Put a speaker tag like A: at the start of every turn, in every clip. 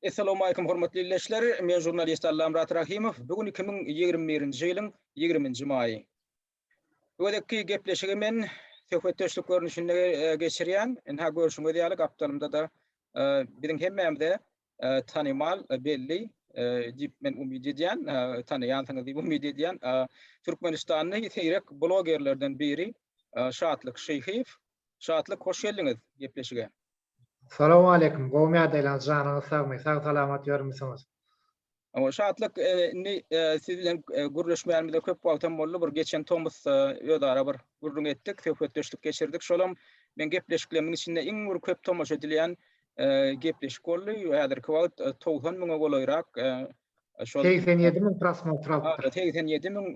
A: Essalawmaleýkum hormatly illeşler, men žurnalist Allamyrat Rahimow, bu gün iki müň ýigrimi birinji ýylyň ýigrimi nji maýy. Bu gezekki gepleşigi men söhbetdeşlik görnüşinde geçirýän, ynha görşüňiz ýaly gapdalymda-da biziň hemmämize tanymal, belli diýip men umyt edýän, tanaýansyňyz diýip umyt edýän türkmenistanly seýrek blogerlerden biri Şatlyk Şyhyýew. Şatlyk hoş geldiňiz gepleşige.
B: Salowmaleýkim, gowmy ýagdaýlaryňyz, janyňyz sagmy, sag salamat ýörmüsiňiz?
A: Şatlyk indi siz bilen gürleşmänimize köp wagtam boldy, bir geçen tomusda özara bir gürrüň etdik, söhbetdeşlik geçirdik, şolam meň gepleşiklerimiň içinde iň bir köp tomaşa edilýän gepleşik boldy, häzirki wagt togsan müňe golaýrak şol Segsen ýedi müň
B: prosmotr alypdyr. Segsen ýedi müň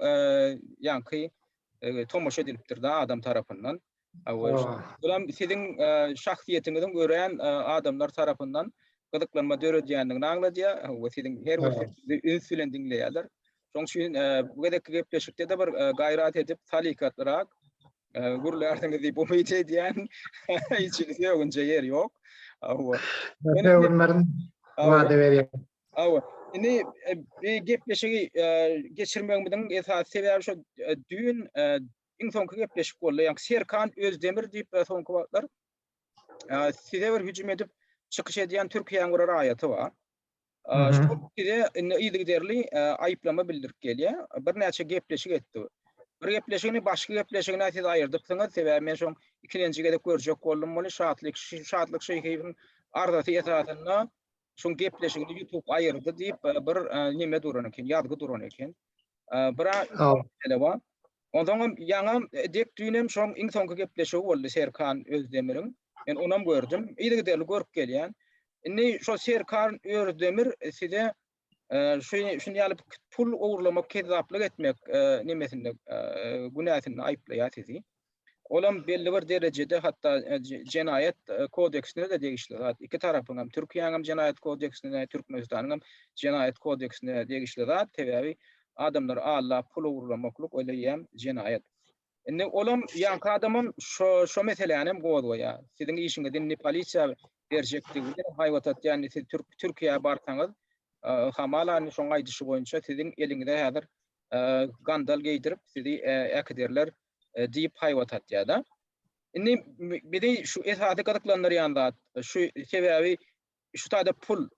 A: ýaňky tomaşa edilipdir-de adam tarapyndan. Bulam siziň şahsyýetiňiziň örän adamlar tarapyndan gyzyklanma döredýändigini aňladýar we siziň her bir sözüňizi üns bilen diňleýärler. Şonuň üçin bu gezekki gepleşikde-de bir gaýrat edip, salykatlyrak gürlärsiňiz diýip umyt edýän. Hiç sögünjä ýer ýok. Hawa. Sögünmerin
B: wada berýän. Hawa. Indi
A: bu gepleşigi geçirmegimiziň esasy sebäbi şu düýn iň soňky gepleşik boldy. Ýa Serkan Özdemir diýip e, soňky wagtlar e, size bir hüjüm edip çykyş edýän Türkiýäň bir raýaty bar. E, Şol size indi yzygiderli e, aýyplama bildirip gelýär. Birnäçe gepleşik etdi. Bir gepleşigini başky gepleşigine siz aýyrdypsyňyz, sebäbi men şoň ikilenji gezek görjek boldum muny. Şatlyk Şatlyk Şeýhiýewiň arzasy esasynda Şoň gepleşigini YouTube aýyrdy diýip e, bir e, neme duran eken, ýazgy duran eken. E, bir mesele bar. Ondan hem ýaňa e, dek düýnem şoň iň soňky gepleşigi boldy Serkan Özdemiriň. Men onam gördüm. Ýygy giderli görüp gelýän. Indi şo Serkan Özdemir size şu şuny alyp pul ogurlamak, kezzaplyk etmek nemesinde günäsinde aýyplaýar sizi. Olam belli bir derejede hatda jenaýat kodeksine-de degişli zat. Iki tarapyň hem, Türkiýäň hem jenaýat kodeksine, Türkmenistanyň hem jenaýat kodeksine degişli zat. Sebäbi adamlary aldap pul ogurlamaklyk öleýýäm jenaýat. Indi olam ýaňky adamam şo şo meseläni hem gozgaýar. Siziň işiňizi indi polisiýa berjekdigini haýbat atýar. Indi siz Türk Türkiýä barsaňyz, hamala indi şoň aýdyşy boýunça siziň eliňize häzir gandal geýdirip sizi äkiderler. diýip haýbat atýar-da. Indi bizi şu esasy gyzyklandyrýan zat şu, sebäbi şu taýda pul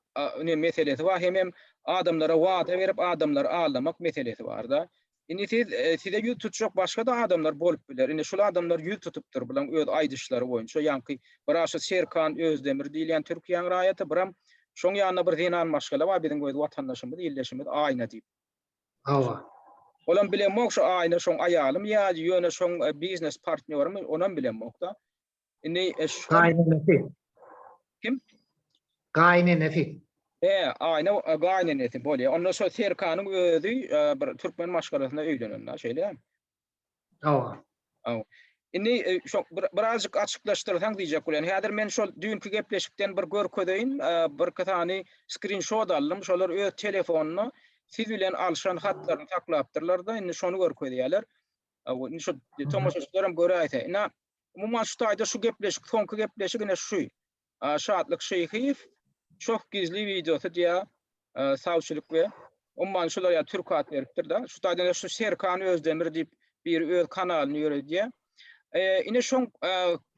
A: meselesi bar, hemem adamlara wada berip, adamlary aldamak meselesi bar-da. Indi siz, size ýüz tutjak başga-da adamlar bolup biler. Indi şul adamlar ýüz tutupdyr, bularyň öz aýdyşlary boýunça. Ýaňky bir-ä şu Serkan Özdemir diýilýän Türkiýäň raýaty, biram şoň ýanynda bir zenan maşgala bar, biziň öz watandaşymyz, ildeşimiz Aýna diýip. Hawa. Olam bilemok şu Aýnur şoň aýalym ýa ýöne şoň biznes partnýorymy onam bilemokda. Indi şu. Gaýynenesi. Kim? Gaýynenesi.
B: He,
A: Aýna gaýynenesi bolýa. Onda şo Serkanyň özi bir türkmen maşgalasyna öýlenenda şeýle. Hawa. Hawa. Indi şo birazjyk açyklaşdyrsaň diýjek bolýan. Häzir men şol düýnki gepleşikden bir görkezeýin. Birki sany skrinşot aldym. Şolar öz telefonynda siz bilen alşan hatlaryny saklapdyrlar-da, indi şony görkezýärler. Hawa, indi şo tomaşaçylar hem göräýse. Ina, umuman şu taýda şu gepleşik, soňky gepleşik ine şu. Şatlyk Şeýhiýew Çoh gizli wideosy diýä sawçylyk we umman şular ýa türk at beripdir da. Şu taýdan şu Serkan Özdemir diýip biri öz kanalyny ýöredýä. Ine şoň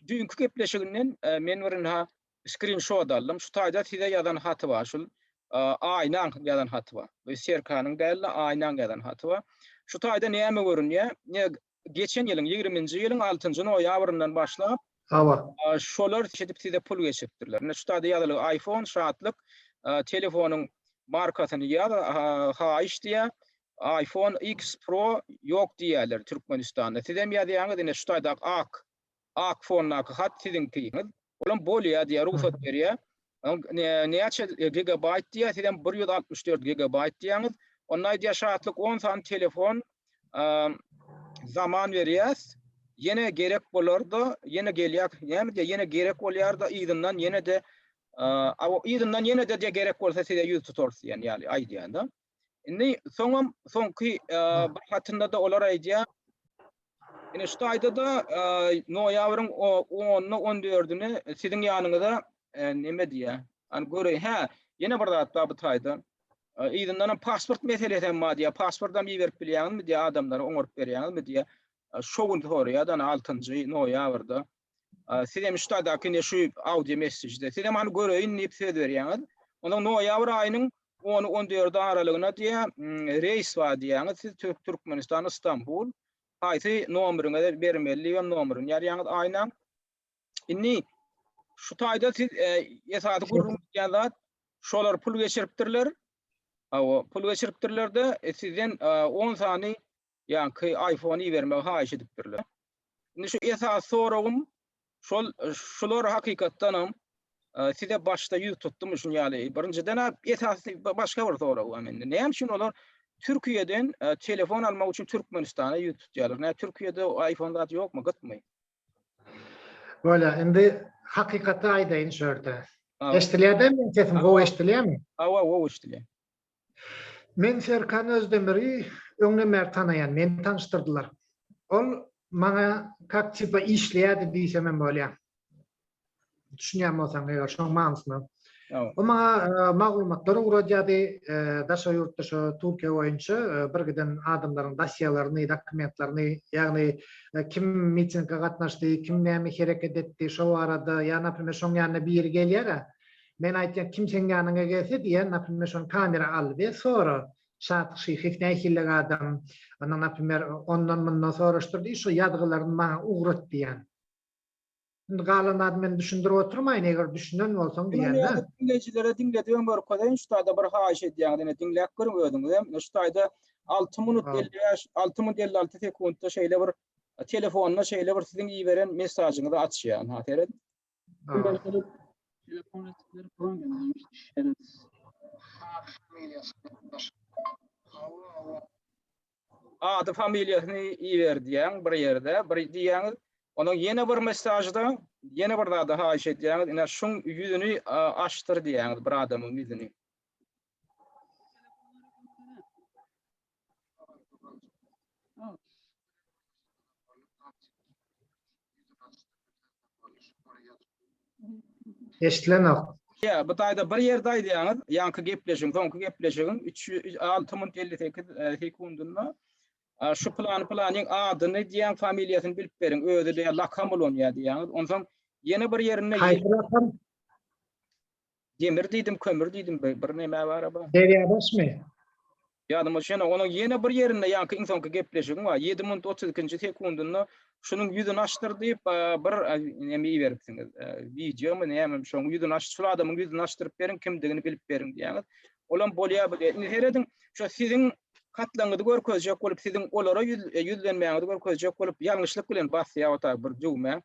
A: düýnki gepleşiginden men bir ynha skrinşot aldym. Şu taýda size ýazan haty bar şul Aýnaň ýazan haty bar. Bu Serkanyň däl-de Aýnaň ýazan haty bar. Şu taýda näme görünýä? Ine Geçen ýylyň ýigriminji ýylyň altynjy noýabryndan başlap Hawa. Şolar şeýdip size pul geçiripdirler. Indi şu taýda ýazylyk Aýfon Şatlyk telefonyň markasyny ýaz haýyş diýýä. Aýfon X Pro ýok diýýäler Türkmenistanda. Sizem ýazýaňyz ine şu taýda ak ak fondaky hat siziňkiňiz olam bolýa diýýä rugsat berýä näçe gigabaýt diýýä sizem bir ýüz altmyş dört gigabaýt diýýäňiz onda aýdýa şatlyk on sany telefon zaman berýäs ýene gerek bolarda ýene gelýä näme diýýä ýene gerek bolýarda yzyndan ýene-de yzyndan ýene-de gerek bolsa size ýüz tutarys diýen ýaly aýdýa da Indi soňam soňky bir hatynda-da olar aýdýar, Ine şu taýda-da noýabryň 10-na 14-üne siziň ýanyňyza näme diýýär? An göre, hä, ýene bir zat bar bu taýda. Yzyndan hem pasport meselesi hem bar diýýär. Pasport hem iberip bilýäňizmi diýýär adamlara, oňaryp berýäňizmi diýýär. Şo gün soraýar-da, ine altynjy noýabrda Siz hem ştadaky ine şu audio messežde siz hem hany göreýin diýip söz berýäňiz. Onda noýabr aýynyň ony 14 aralygyna diýä reýs bar diýýäňiz. Siz Türk Türkmenistan Istanbul haýsy nomeriňizi bermeli diýip hem nomerini ýazýaňyz aýna. Indi şu taýda siz esasy gürrüň edýän zat şolar pul geçiripdirler. Hawa, pul geçiripdirlerde sizden 10 sany ýaňky iPhone ibermegi haýyş edipdirler. Indi şu esasy soragym şol şular hakykatdan hem size başda ýüz tutdum şun ýaly. Birinjiden esasy başga bir sorag bar mende. Näme üçin olar Türkiýeden telefon almak üçin Türkmenistana ýüz tutýarlar? Nä Türkiýede iPhone zat ýokmy, gytmy?
B: Bolýa, indi hakykaty aýdaýyn şu ýerde. Eşdilýärmi sesiň gowy eşdilýärmi? Hawa, gowy eşdilýär. Men Serkan Özdemiri öňden bäri tanaýan, meni tanyşdyrdylar. Ol maňa kak tipa işleýärdi diýsemem bolýar. Düşünýän bolsaň eger şoň manysyna. O maňa maglumatlary ugradýardy, daşary ýurtda şo Türkiýe boýunça bir giden adamlaryň dosýelerini, dokumentlerini, ýagny kim mitinge gatnaşdy, kim näme hereket etdi, şo barada, ýa naprimýr şoň ýanyna biri gelýär-ä, Men aýtýan kim seň ýanyňa gelse diýýän naprimýer şony kamera al we sora Şadyk Şyhyýew nähillik adam ondan naprimýer ondan mundan soraşdyr diý şu ýazgylaryny maňa ugrat diýýän. Indi galan zady men düşündirip oturmaýyn eger düşünen bolsaň diýýän-dä. Diňleýjilere diňlediben
A: görkezeýin şu taýda bir haýyş edýän diňe diňläp görüň özüňizem şu taýda alty minut elli bäş alty minut elli alty sekuntda şeýle bir telefonda şeýle bir siziň iberen mesajyňyzy açýan ha seret. Ady familiýasyny iber diýýän bir ýerde bir diýýäňiz. Onuň ýene bir mesajda ýene bir zada haýyş edýäňiz. Ine şuň ýüzüni açdyr diýýäňiz bir adamyň ýüzüni.
B: Eşitlenok. Ýa, bu taýda
A: bir ýerde aýdýaňyz, ýaňky gepleşigiň, soňky gepleşigiň üç ýü-, alty minut elli sekiz, e, sekundynda, a, şu plany-planyň adyny diýýän familiýasyny bilip beriň, özi diýýär, lakam ulanýar diýýäňiz. Onsoň ýene bir ýerinde Haýsy rakam? Demir diýdim, kömür diýdim, bir, bir näme bara bar. Derýadaşmy?
B: Ýadyma
A: düşen, onuň ýene bir ýerinde ýaňky iň soňky gepleşigim bar. Ýedi minut otuz ikinji sekundynda şunuň ýüzüni açdyr diýip, bir näme iberipsiňiz. Wideomy, nämemi, şonuň ýüzüni aç, şul adamyň ýüzüni açdyryp beriň, kimdigini bilip beriň diýýäňiz. Olam bolýar bu diýýär. Indi serediň, şo siziň hatlaňyzy görkezjek bolup, siziň olara ýüzlenmäňizi görkezjek bolup, ýalňyşlyk bilen basýar otaga bir düwmä.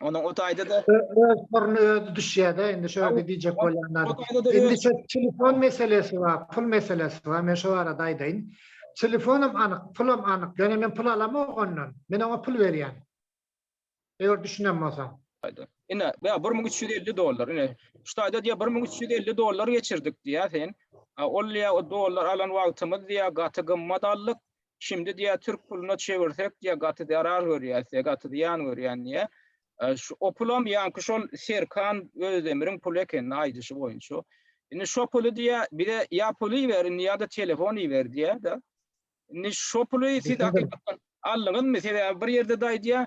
A: Onuň o taýda-da öz puluna özi
B: düşýär-de, indi şu ýerde diýjek bolýan zadym. Indi şu telefon meselesi bar, pul meselesi bar. Men şu barada aýdaýyn. Telefonam anyk, pulam anyk. Ýöne men pul alamok ondan. Men oňa pul berýän. Eger düşünen bolsaň. Ine,
A: ýa bir müň üç ýüz elli dollar. Ine, şu taýda diýýär, bir müň üç ýüz elli dollar geçirdik diýýär sen. Ol diýýär, o dollar alan wagtymyz diýýär, gaty gymmat aldyk. Şimdi diýä türk puluna çevirsek diýä gaty zarar görýäs diýä gaty zyýan görýän diýä. Şu o pulam ýaňky şol Serkan Özdemiriň puly eken aýdyşy boýunça. Indi şo puly diýä bize ýa pul iberin ýa-da telefon iber diýä da. Indi şo puly siz hakykatdan aldyňyzmy? Sebäbi bir ýerde daýy diýä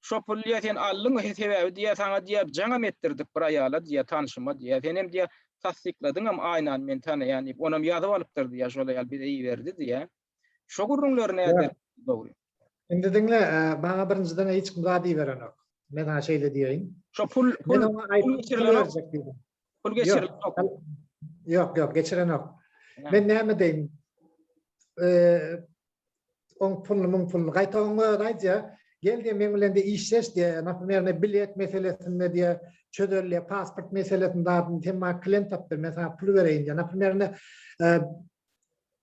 A: şo puly diýä sen aldyň he sebäbi diýä saňa diýä jaňam etdirdik bir aýala diýä tanşyma diýä. Senem diýä tassykladyňam aýnan men tanaýan diýip onam ýazyp alypdyr diýä şol aýal bize iberdi diýä. Şo gürrüňleri näder? Dogry. Indi diňle,
B: maňa birinjiden hiç kim zat iberenok. Men saňa şeýle diýeýin. Şo pul, pul,
A: pul geçirilenok. Pul
B: geçirilenok.
A: Ýok,
B: ýok, geçirenok. Men näme deýin? Oň puluny, muň puluny. Gaýta oň özi aýdýar. Gel diýe men bilen de işleş diýe. Naprimýer, ne bilet meselesinde diýe çözelýär, pasport meselesinde sen maňa klient tapdyr, men saňa pul bereýin diýe. Naprimýer,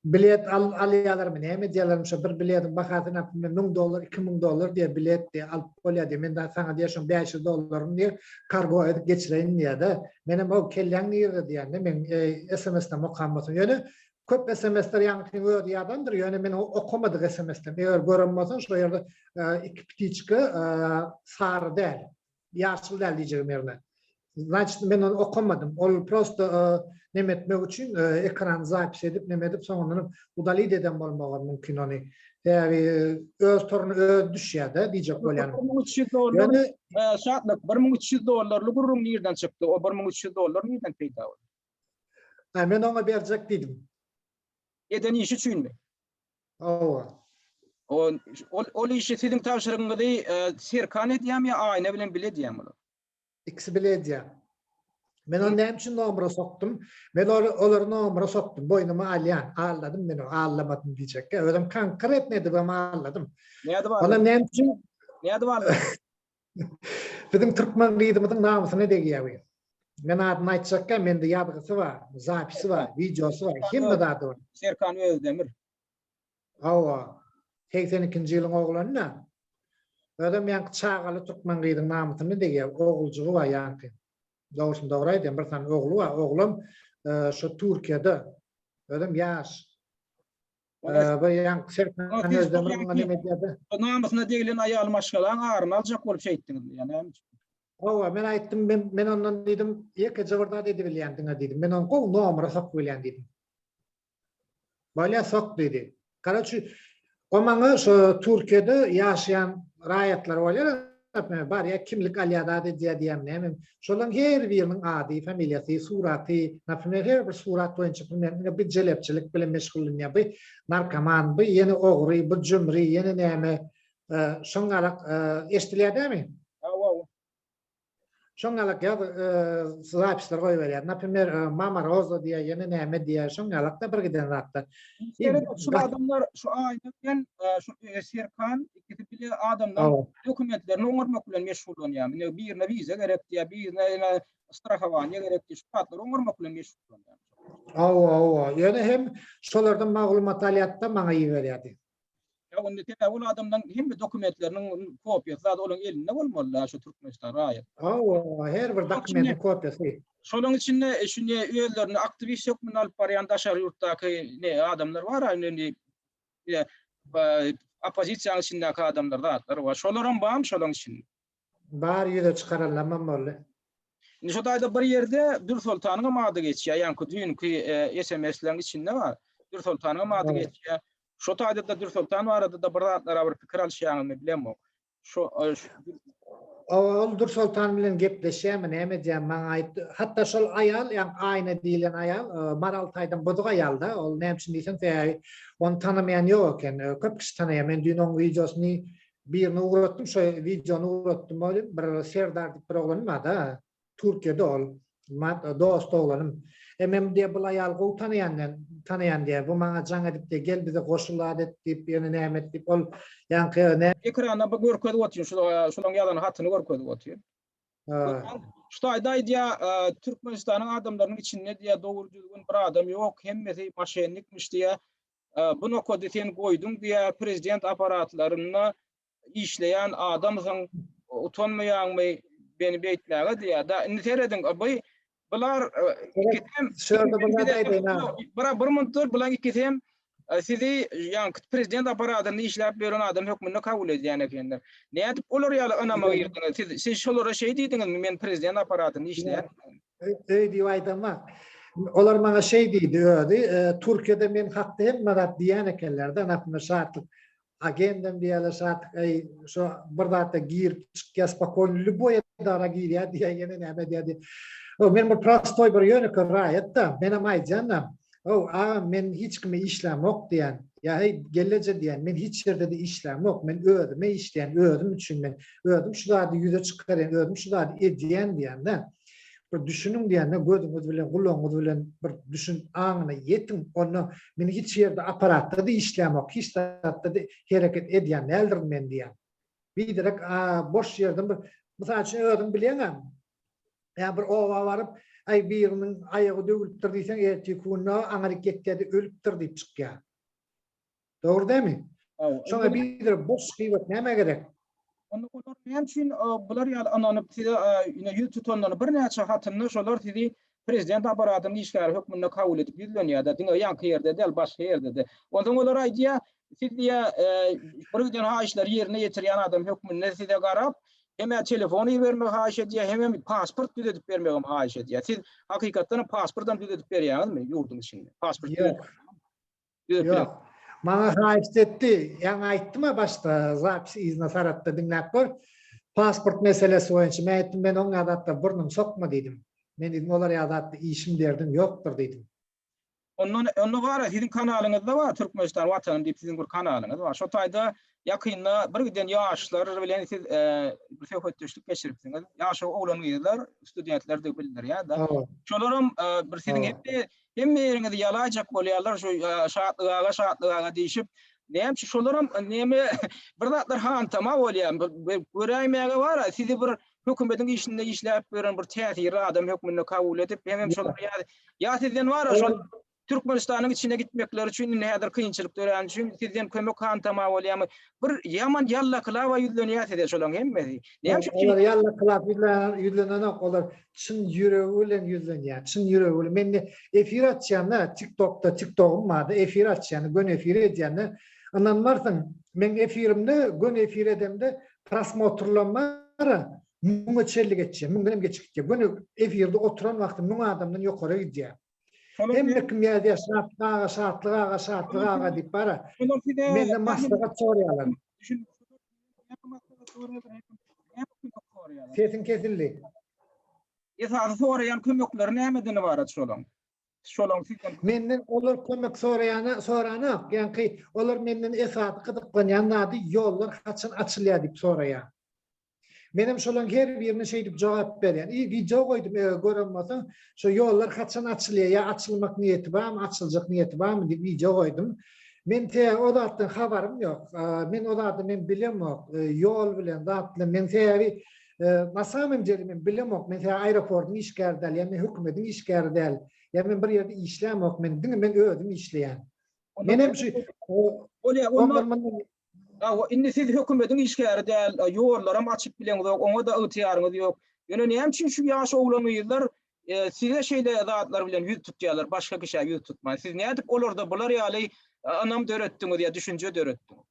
B: Bilet alýalarmy, näme edýälermi, şo bir bilediň bahasy näme bilmem müň dollar, iki müň dollar diýýär bilet diýýär, alyp bolýar diýýär. Men dagy saňa diýýär şoň bäş ýüz dollaryňy diýýär, kargo edip geçireýin diýýär-de. Menem how kelläň nirede diýýän-de, meň sms-lerimi okan bolsaň. Ýöne köp sms-ler ýaňkynyň özi ýadandyr, ýöne men okamadyk sms-lerimi eger gören bolsaň şo ýerde iki ptiçka sary däl. Ýaşyl däl diýjegim ýerine. Значит, men ony okamadym. Ol prosto neme etmek üçin ekrany zapis edip, neme edip, soňundanam udalit eden bolmagam mümkin ony. Sebäbi öz toruny özi düşýär-de diýjek bolýanym. Bir müň üç ýüz dollar, Şatlyk, bir müň
A: üç ýüz dollarly gürrüň nirden çykdy? O bir müň üç ýüz dollar nirden peýda boldy? Hä, men
B: oňa berjek diýdim. Eden
A: işi üçinmi? Hawa.
B: Ol
A: ol ol işi siziň tabşyrygyňyzy e, Serkan edýärmi ýa Aýna bilen bile edýärmi olar? İkisi
B: bile edýär. Men onu näme üçin nomera sokdum? Men ol- olary nomera sokdum. Boýnuma alýan. Alladym men o. Allamadym diýjekkä. Özüm kaňkyr etmedim hem alladym. Nädip Ondan aldym?
A: näme üçin?
B: Nädip aldym? Biziň türkmen gyzymyzyň namysyna degýär bu. Men adyny aýtjakka mende ýazgysy bar, zapisi bar, wideosy bar, hemme zady bar. Serkan Özdemir.
A: Hawa.
B: Segsen ikinji ýylyň oglany da. Özem ýaňky çagaly türkmen gyzyň namysyna degýär. Oguljygy bar ýaňky. Dogrusyny dogry aýdýan bir sany ogly bar. Oglam şu Türkiýede. Özem ýaş. Namysyna deglen
A: aýaly maşgalaň aryny aljak bolup şeýtdiňizmi ýa näme üçin? Hawa, men
B: aýtdym, men ondan diýdim, ýekeje bir zat edibilýän diňe diýdim. Men ony gowy nomera sokubilýän diýdim. Bolýa sok diýdi. Karaçi, o maňa şo Türkiýede ýaşaýan raýatlar bolýar, Näme barýa kimlik alýa zat edýä diýýäň näme. Şolaň her biriniň ady, familiýasy, suraty, napimer her bir surat boýunça bilmem ine bu jelepçilik bilen meşgullanýa, bu narkoman, bu ýene ogry, bu jümri, ýene näme. Şoň galak eşdilýä dämi? Hawa. Şoň ýalak ýaz zapisler goýberýär. Naprimer, Mama Roza diýýär, ýene näme diýýär. Şoň ýalak-da bir giden zatlar. Şul
A: adamlar şu aýda bilen şu Serkan ikisi bile adamlaryň dokumentlerini oňarmak bilen meşgullanýar. Indi birine wiza gerek diýýär, birine ýene strahowaniýa gerek diýýär. Şu zatlary oňarmak bilen meşgullanýar. Hawa, hawa.
B: Ýöne hem şolardan maglumat alýar-da, maňa iberýär diýip. Ýa onda
A: sebäbi ol adamlaň hemme dokumentleriniň kopiýasy zady olaň elinde bolmaly-da şu Türkmenistan raýat. Hawa, her bir
B: dokumentiň kopiýasy. Şolaň içinde
A: şu ne özlerini aktiwist hökmünde alyp barýan daşary ýurtdaky ne adamlar bar a indi ne opozisiýanyň içindäki adamlar zatlar bar. Şolaram barmy şolaň içinde? Bary ýüze
B: çykaranlamam boldy. Indi şo
A: taýda bir ýerde Dürsoltanyňam ady geçýär, ýaňky düýnki sms-leriň içinde bar. Dürsoltanyňam ady geçýär. Şo taýda-da Dürsoltan barada-da bir zatlara bir pikir alyşýaňyzmy bilemok. Şo
B: Ol Dürsoltan bilen gepleşýärmi, näme edýär, maňa aýt. Hatda şol aýal, ýa Aýna diýlen aýal, Maral taýdan bozuk aýal-da. Ol näme üçin diýseň, sebäbi ony tanamaýan ýok eken. Köp kişi tanaýar. Men düýn onuň wideosyny Birini ugratdym, şo wideony ugratdym ol, bir Serdar diýip bir oglan barda, Türkiýede ol, dost oglanym. Emem diýýär, bul aýaly gowy tanaýan men, tanaýan diýýär. Bu maňa jaň edip diýýär, gel bize goşul zat et diýip, ýöne näme et diýip, ol ýaňky nä. Ekrana bir görkezip
A: otyr, şulaň ýazan hatyny görkezip otyr. Görýäň, şu taýda aýdýar, Türkmenistanyň adamlarynyň içinde diýýär, dogry-düzgün bir adam ýok, hemmesi moşennikmiş diýýär. Bu nokady sen goýduň diýä prezident aparatlarynda işleýän adamsyň utanmaýaňmy beni beýtmäge diýä da indi serediň by bular ikisem bura bir munt dur bulan ikisem sizi ýan prezident aparatynda işläp ýören adam hökmünde kabul edýän ekenler nädip olar ýaly ynama girdiňiz siz şolara şeý diýdiňizmi men prezident aparatynda işleýän Öý diýip
B: aýdamak. Olar maňa şeý diýdi özi, Türkiýede men hakda hemme zat diýýän ekenler-de, aslynda Şatlyk agendem diýýärler, Şatlyk eý, şo bir zat-a girip çykýar, spokojno lýuboý edara girýär diýýär, ýene näme edýär diýýär. Men bir prostoý, bir ýönekeý raýat-da, menem aýdýan-da, How, agam, men hiç kime işlämok diýýän. Ýa heý, gelleje diýýän, men hiç ýerde-de işlämok, men özüme işleýän, özüm üçin, men özüm şu zady ýüze çykarýan, özüm şu zady edýän diýýän-dä. Bir düşüniň diýýän-dä, gözüňiz bilen, gulagyňyz bilen bir düşün, aňyna ýetiň. Onda men hiç ýerde apparatda-da işlämok, hiç zatda-da hereket edýän däldirin men diýýän. Biderek boş ýerden bir, mysal üçin, özüň bilýäň-ä, Ýa bir oba baryp, Aý, biriniň aýagy döwülipdir diýseň, ertiki günde aňryk ýetýä-de, ölüpdir diýip çykýar. Dogry dämi? Şoňa biderek boş gybat nämä gerek? Onda olar
A: näme üçin bular ýaly ynanyp, size ýüne ýüz tutandygyny birnäçe hatynda şolar sizi prezident apparatynyň işgäri hökmünde kabul edip ýüzlenýär-de, diňe ýaňky ýerde däl, başga ýerde-de. Onsoň olar aýdýar, Siz diýe bir giden haýyşlary ýerine ýetirýän adam hökmünde size garap, hemä telefon ibermegi haýyş edýär, hemem pasport düzedip bermegem haýyş edýär. Siz hakykatdanam pasportam düzedip berýäňizmi ýurduň içinde? Pasport Ýok. Ýok. Maňa
B: haýyşt etdi. Ýaňy aýtdym-a başda, zapis iznosaratda diňläp gör. Pasport meselesi boýunça men aýtdym, men oňa zatda burnumy sokma diýdim. Men diýdim, olar ýaly zatda işim derdim ýokdur diýdim. Onda
A: onda gara siziň kanalyňyzda bar Türkmenistan watanym diýip siziň bir kanalyňyz bar. Şo taýda ýakynda bir giden ýaşlar bilen siz bir söhbetdeşlik geçiripsiňiz. Ýaş oglan gyzlar, studentler diýip bildirýär da. Şolaram bir siziň hepde hemme ýeriňizi ýalaýjak bolýarlar şu şatlyk aga, şatlyk aga diýşip. Näme şu şolaram näme bir zatlar hantama bolýar. Göräýmäge bar, sizi bir hökümetiň işinde işläp ýören bir täsirli adam hökmünde kabul edip, hemem şol ýaly ýa sizden wara şol Türkmenistanyň içine gitmekleri üçin indi häzir kynçylyk döräni üçin sizden kömek hantama bolýamy? Bir ýaman ýallakylaba ýüzlenýär size şolaň hemmesi. Näme üçin? Olar ýallakylap
B: ýüzlen ýüzlenenok, olar çyn ýüregi bilen ýüzlenýär, çyn ýüregi bilen. Men indi efir açýanda, TikTokda, TikTogym bardy, efir açýanda, göni efir edýände, Ynanmarsyň, meň efirimde, göni efir edemde prosmotrlam bara müňe çenli geçýär, müňden hem geçip gitýär. Göni efirde oturan wagty müň adamdan ýokara gidýär. Hemme kim ýazýar, Şatlyk aga, Şatlyk aga, Şatlyk aga diýip bara menden maslahat soraýarlar. Sesiň kesildi.
A: Esasy soraýan kömekleri nämeden ybarat şolaň? şolaň sizden Menden olar kömek
B: soraýana soranok. Ýaňky olar menden esasy gyzyklanýan zady ýollar haçan açylýar diýip soraýar. Menem şolaň her birine şeýdip jogap berýän. I wideo goýdum eger gören bolsaň şo ýollar haçan açylýar ýa açylmak niýeti barmy açyljak niýeti barmy diýip wideo goýdum. Men tä o zatdan habarym ýok. Men o zady men bilemok. Ýol bilen zat bilen men sebäbi Na samym deli men bilemok, men seni aeroportyň işgäri däl, ýa men hökümetiň işgäri däl, ýa men bir ýerde işlämok, men diňe men özüm işleýän. Menem şu Hawa,
A: indi siz hökümetiň işgäri däl, ýollaram açyp bileňizok, oňa-da ygtyýaryňyz ýok. Ýöne näme üçin şu ýaş oglan-gyzlar size şeýle zatlar bilen ýüz tutýarlar, başga kişä ýüz tutman? Siz nädip olarda bular ýaly ynam döretdiňiz ýa düşünje döretdiňiz?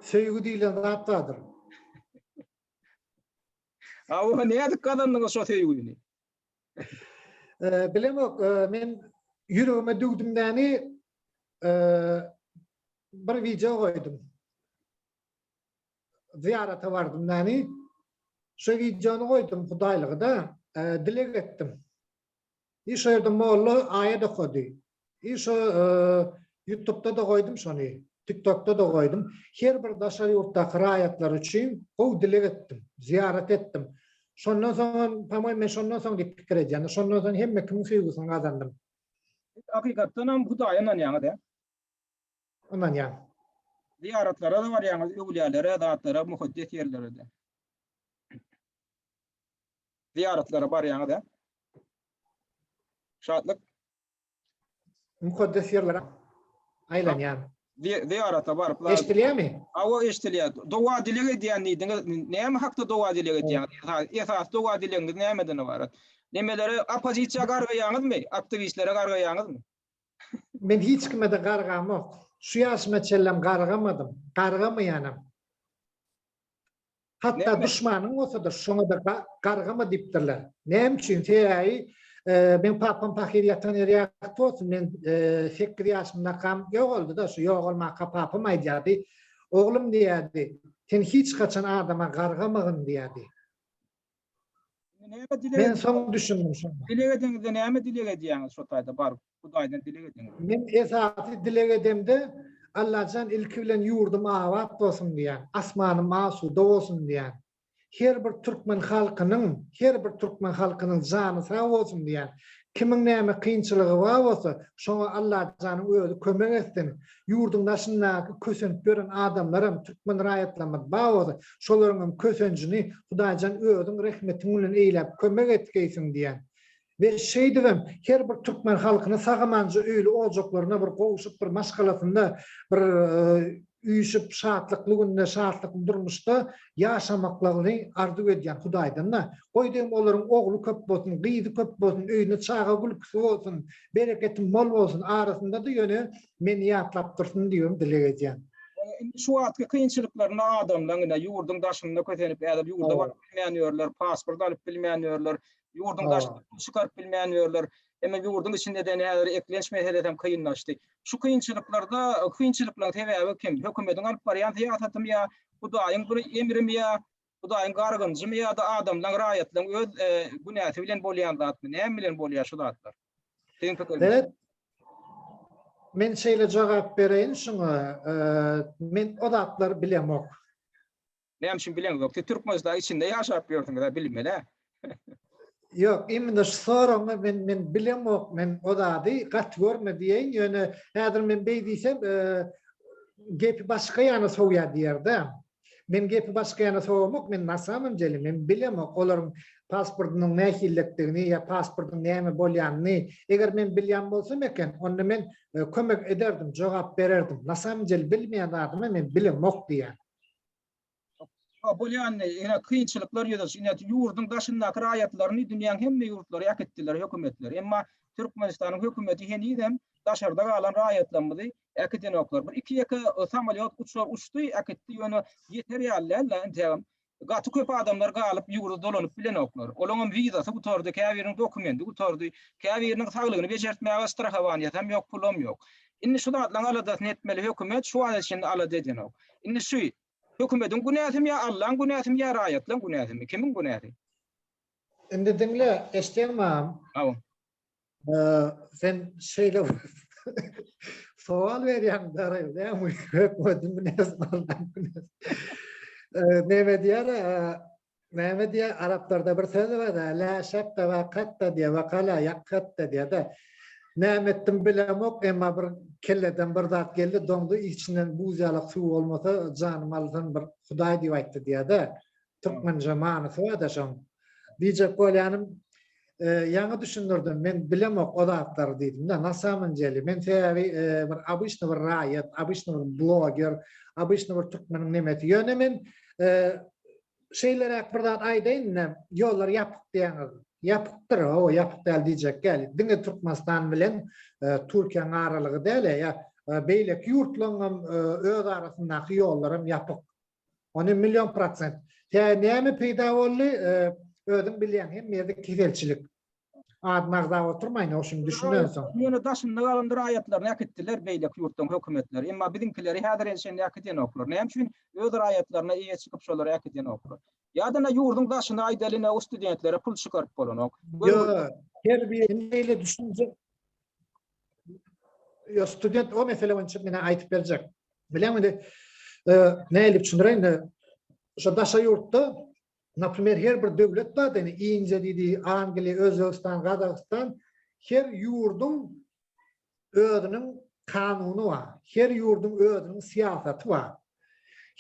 A: Söýgi
B: diýlen zat bardyr.
A: Hawa, nädip gazandyňyz şo söýgini?
B: Bilemok, men ýüregime düwdümdäni bir wideo goýdum. Zyýarata bardymdäni, şo wideony goýdum, hudaýlygy-da, dileg etdim. I şo ýerde molla aýat okady. I şo ýutubda-da goýdum şony. Tiktokda-da goýdum. Her bir daşary ýurtdaky raýatlar üçin gowy dileg etdim. Zyýarat etdim. Şondan soňam, pomoým men şondan soň diýip pikir edýän-de, şondan soň hemme kimiň söýgüsini gazandym. Siz hakykatdanam
A: Hudaýa ynanýaňyz, ä?
B: Ynanýan. Zyýaratlara-da
A: barýaňyz, öwlüýälere, zatlara, mukaddes ýerlere-de? Zyýaratlara barýaňyz ä? Şatlyk. Mukaddes
B: ýerlere aýlanýan. Zyýarata
A: baryp. Eşdilýärmi? Hawa
B: eşdilýär.
A: Doga dileg edýän diýdiňiz. Näme hakda doga dileg edýäňiz? Esasy doga dilegiňiz nämeden ybarat? Nemelere oppozisiýa gargaýaňyzmy? Aktiwistlere gargaýaňyzmy? Men
B: hiç kime-de gargamok. Şu ýaşyma çenlem gargamadym. Gargamaýanam. Hatda duşmanyň bolsa-da şoňa-da gargama diýipdirler. Näme üçin? Sebäbi meň papam pahyr ýatan ýeri ýagty bolsun, men sekiz ýaşymdakam ýogaldy-da, şu ýogalmaka papam aýdýardy, Oglum diýýärdi, sen hiç haçan adama gargamagyn diýýärdi. Näme dileg Men soň düşündim şonda. Dileg edeňizde näme
A: dileg edýäňiz şo taýda baryp? Hudaýdan dileg ediň. Men esasy
B: dileg edemde Allajan ilki bilen ýurdum abat bolsun diýýän, asmanym asuda bolsun diýýän. Her bir türkmen halkynyň, her bir türkmen halkynyň jany sag bolsun diýýän. Kimiň näme kynçylygy bar bolsa, şoňa Allajanyň özi kömek etsin. Ýurduň daşyndaky kösent gören adamlaram türkmen raýatlarymyz bar bolsa, şolaryňam kösenjini Hudaýjan özüň rehmetiň bilen eýläp kömek etgeýsin diýýän. We şeýdibem her bir türkmen halkyny sag-amanja öýli ojaklaryna bir gowşup, bir maşgalasynda bir üýşüp, şatlykly günde, şatlykly durmuşda ýaşamaklaryny arzuw edýän Hudaýdan-da. Goý diýiň olaryň ogly köp bolsun, gyzy köp bolsun, öýünde çaga gülküsi bolsun. Bereketiň bol bolsun arasyndada ýöne meni ýatlap dursun diýibem dileg edýän. Indi
A: şu wagtky kynçylyklarynda adamlaň ine ýurduň daşynda kösenip häzir ýurda baryp bilmän ýörler
B: pasport
A: alyp bilmän ýörler ýurduň daşyna pul çykaryp
B: bilmän
A: ýörler emma ýurduň içinde däne häzir eklenç meselesem kynlaşdy şu kynçylyklarda kynçylyklaň sebäbi kim hökümediň alyp barýan syýasatymy ýa hudaýyň bir emrimi ýa Hudaýyň gargynjymy ýa-da adamlaň, raýatlaň öz günäsi bilen bolýan zatmy? Näme bilen bolýar şu zatlar? Siziň pikiriňizçe.
B: Men şeýle jogap bereýin şuňa, men o zatlary bilemok.
A: Näme üçin bileňizok? Siz Türkmenistan içinde ýaşap ýörsüňiz-ä, bilmeli-ä.
B: Ýok, imine şu soragyňy men men bilemok, men o zady gaty görme diýeýin, ýöne häzir men beý diýsem, gepi başga ýana sowýar diýer-dä. Men gepi başga ýana sowamok, men na samom dele men bilemok olaryň pasportynyň nähililikdigini ýa pasportyň näme bolýanyny. Eger men bilýän bolsam eken, onda men kömek ederdim, jogap bererdim. Na samom dele bilmeýän zadymy men bilemok diýýän. Şo
A: bolýandy, ýene kynçylyklar ýüze çykdy. Ýöne ýurduň daşyndaky raýatlaryny dünýäň hemme ýurtlary äkitdiler hökümetleri. Emma Türkmenistanyň hökümeti henizem daşarda galan raýatlarymyzy äkidenoklar. Bir iki-ýeke samolýot uçar uçdy, äkitdi, ýöne ýeter ýaly däldi-ä integem. Gaty köp adamlar galyp, ýurda dolanyp bilenoklar. Olaňam wizasy gutardy, käbiriniň dokumendi gutardy, käbiriniň saglygyny bejertmäge strahowaniýasam ýok, pulam ýok. Indi şu zatlaryň aladasyny etmeli hökümet, şu wagt içinde alada edenok. Indi şu Hökümediň günäsimi ýa Allaň günäsimi ýa raýatlaň günäsimi? Kimiň günäsi?
B: Indi diňle, eşitýäňmi agam? Hawa. Sen şeýle sowal berýäň dagy, näme hökümediň günäsimi Allaň günäsimi? Näme diýýär, Näme diýä araplarda bir söz barda la şakka wa katta diýä wa kala ýakkatta diýäda. Näme etdim bilemok emma bir kelleden bir zat geldi doňdy içinden buz ýalak suw bolmasa janym alsyn bir hudaý diýip aýtdy diýäda. Türkmençe manysy barda şoň. Diýjek bolýanym ýaňy düşündirdim, men bilemok o zatlary diýdim-de. Na samyn deli, men sebäbi bir obyçny bir raýat, obyçny bir bloger, obyçny bir türkmeniň nemesi. Ýöne men şeýleräk bir zat aýdaýyn indi, ýollar ýapyk diýýäňiz. Ýapykdyr, hawa, ýapyk däl diýjek däl. Diňe Türkmenistan bilen Türkiýäniň aralygy däl-ä, beýleki ýurtlaryň hem öz arasyndaky ýollaram ýapyk. Ony million prosent. Hä, näme peýda boldy? Özüň bilýäň, hemmede keselçilik. Adyny agzap oturmaýyn, ýok, şuny düşünmän soň. Ýöne daşynda galandyr
A: raýatlaryny äkitdiler beýleki ýurtlaryň hökümetleri. Emma biziňkileri häzire çenli äkidýänoklar. Näme üçin? Öz raýatlaryna eýe çykyp şolary äkidýänoklar. Ýa-da ine ýurduň daşyna aýdaly ine o studentlere pul çykaryp bolanok. Ýok.
B: Terbiýe indi beýle düşünje. Ýok, student o mesele boýunça menä aýdyp berjek. Bileň indi nädip düşündireýin? Şo daşary ýurtda, naprimer, her bir döwlet bar-da, indi Indiýa diýdi, Angliýa, Özbegistan, Gazagystan, her ýurduň özüniň kanuny bar, her ýurduň özüniň syýasaty bar.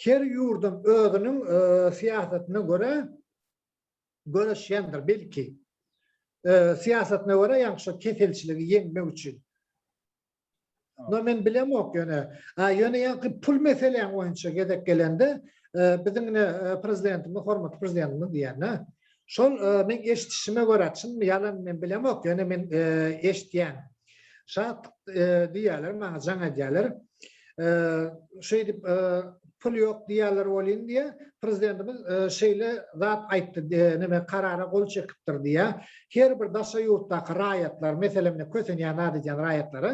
B: Her ýurduň özüniň syýasatyna görä göreşýändir belki. Syýasatyna görä ýaňky şo keselçiligi ýeňmek üçin. No men bilemok ýöne. A ýöne ýaňky pul meseläň boýunça gezek gelende biziň ine prezidentimiz hormatly prezidentimiz diýýän-ä. Şol men eşidişime görä çynmy ýalanmy men bilemok ýöne men eşidýän. Şat diýýärler, maňa jaň edýärler. Şeýdip pul ýok diýýärler welin diýe, prezidentimiz şeýle zat aýtdy, näme karara gol çekipdir diýe. Her bir daşary ýurtdaky raýatlar, meselem, kösenýän zat edýän raýatlara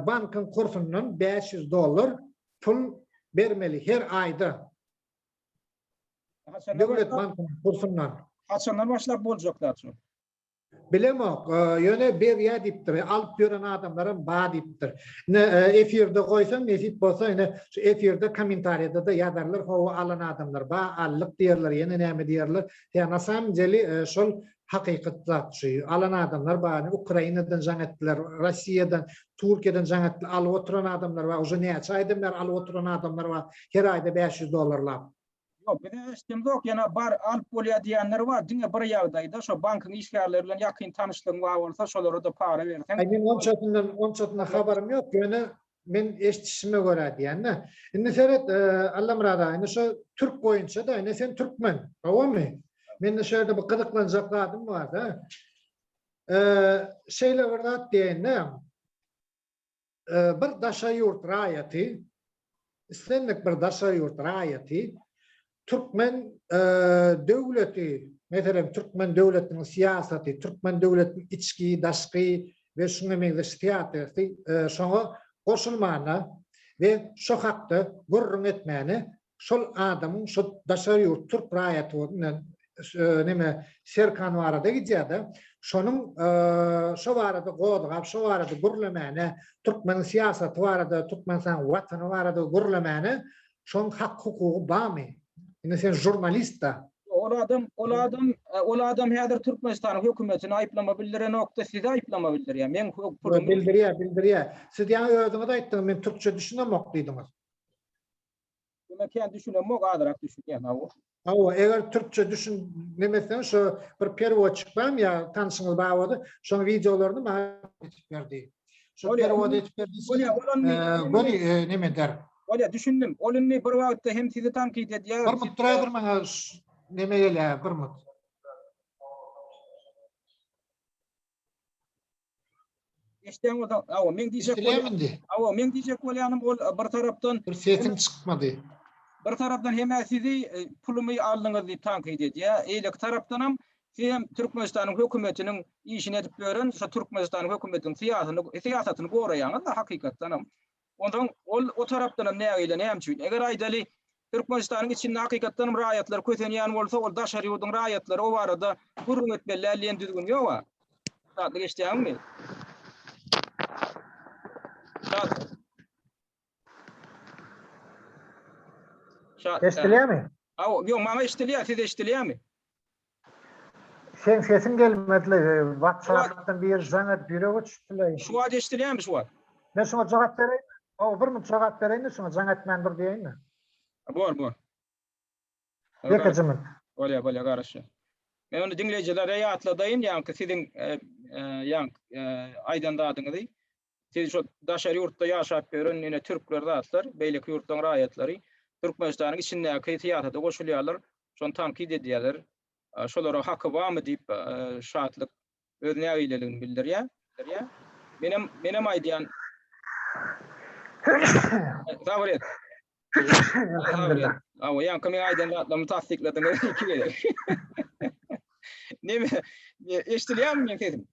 B: bankyň kursundan 500 dollar pul bermeli her aýda. Döwlet bankynyň kursundan. Haçandan başlap
A: boljak zat şu? Bilemok,
B: ýöne berýär diýipdir. Alyp ýören adamlaram bar diýipdir. Ine, efirde goýsaň, nesip bolsa, ine, şu efirde kommentariýada-da ýazarlar, Hawa, alan adamlar bar, aldyk diýerler, ýene näme diýerler. Ýa, na samym deli, şol hakykat zat şu. Alan adamlar bar. Ine, Ukrainadan jaň etdiler, Rossiýadan, Türkiýeden jaň etdiler. Alyp oturan adamlar bar. Uje näçe aýdan bäri alyp oturan adamlar bar. Her aýda bäş ýüz dollarlap. Ýok,
A: bize eşidemzok, ýöne bar, alyp bolýar diýýänler bar. Diňe bir ýagdaýda, şo bankyň işgärleri bilen ýakyn tanyşlygyň bar bolsa, şolara-da para berseň. Aý, meň onçasyndan,
B: onçasyndan habarym ýok, ýöne men eşidişime görä diýýän-dä. Indi seret, Allamyrat aga, indi şo türk boýunça-da, ine, sen türkmen, howamy? Mende şu ýerde bir gyzyklanjak zadym bar-da. Şeýle bir zat diýeýin-dä. bir daşary ýurt raýaty, islendik bir daşary ýurt raýaty türkmen döwleti, meselem, türkmen döwletiniň syýasaty, türkmen döwletiniň içki, daşky we şuňa meňzeş syýasaty şoňa goşulmana we şo hakda gürrüň etmäne şol adamyň şo daşary ýurt türk raýaty bilen neme Serkan barada gidýärde şonuň şo barada gozgap şo barada gürlemäne türkmeniň syýasaty barada türkmenistan watany barada gürlemäne şoň hak hukugy barmy indi sen žurnalistda Ol adam ol adam
A: ol adam häzir türkmenistanyň hökümetini aýyplama bildirenokda sizi aýyplama bildirýär meň bildirýär
B: bildirýär siz ýa özüňiz aýtdyňyz men türkçe düşünemok diýdiňiz. Buna kän
A: düşünemok, azyrak düşünýän hawa. Hawa, eger
B: türkçe düşün nemesen şu bir perwod çykmam ya tanşyňyz bar bolsa, şoň videolaryny maňa etip berdi. Şu perwod etip berdi. Bolýa, bolany. Göni neme der? Bolýa, düşündim. Ol
A: indi bir wagtda hem sizi tankit edýär. Bir mut duraýdyr maňa
B: neme gelýär, bir mut.
A: Eşden o da awa men diyecek awa men diyecek bolyanım ol e, bir taraftan bir sesin çıkmadı.
B: Bir taraftan
A: hem sizi e, pulumu aldınız diýip tankyt edýär. Eýleki tarafdan hem siz hem Türkmenistanyň hökümetiniň işini edip ýören şu Türkmenistanyň hökümetiniň syýasyny syýasatyny goraýaňyz da hakykatdan hem. Onsoň ol o tarapdanam nägile, näme üçin? Eger aýdaly, Türkmenistanyň içinde hakykatdanam raýatlar kösenýän bolsa, ol daşary ýurduň raýatlary o barada gürrüň etmeli däl diýen düzgün ýog-a. Datly geçýäňmi? Datly. Şa.
B: Eşdilýärmi? Hawa, ýok, maňa eşdilýär,
A: size eşdilýärmi?
B: Seň sesiň gelmedile whatsappdan bir jaňa bürege çüpleýin. Şu wagt eşdilýämi şu
A: wagt. Men şuňa jogap
B: bereýin. Hawa bir minut jogap bereýin şuňa jaň etmän dur diýeýinmi. Bor bor. Ýeke jynyp. Bolýa bolýa
A: garaşýa. Men onda diňleýjilere ýatladaýyn ýaňky siziň ýaňky aýdan zadyňyzy. Siz şo daşary ýurtda ýaşap ýören ine türkler zatlar, beýleki ýurtlaryň raýatlary Türkmenistanyň içindäki syýasata goşulýarlar, şony tankyt edýärler. Şolara haky barmy diýip Şatlyk öz nägileligini bildirýär. Menem menem aýdýan. Sabyr et. Elhamdulillah.
B: Awa ýaňky
A: men aýdan zatlarymy tassykladyňyz iki gezek. Neme? Eşdilýärmi meň sesim?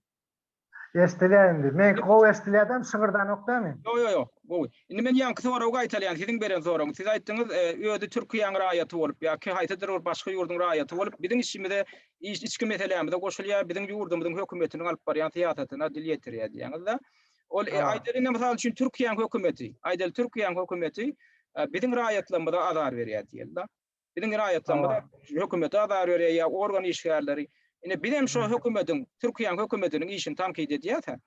A: Eşdilýär
B: indi. Meňki gowy eşdilýädem, şygyrdanok dämi? Ýok, ýok, ýok, gowy.
A: Indi men ýaňky soragy gaýtalýan, siziň beren soragyňyz. Siz aýtdyňyz, özi Türkiýäň raýaty bolup ýa-ki haýsydyr bir başga ýurduň raýaty bolup, biziň işimize, içki meselämize goşulýar, biziň ýurdumyzyň hökümetiniň alyp barýan syýasatyna dil ýetirýär diýýäňiz-de. Ol, aýdaly indi mysal üçin Türkiýäň hökümeti, aýdaly Türkiýäň hökümeti biziň raýatlarymyza azar berýär diýeli-de. Biziň raýatlarymyz hökümete azar berýär ýa organ işgärleri. Ine biz hem şo hökümetiň, Türkiýäň hökümetiniň işini tankyt edýäs-ä.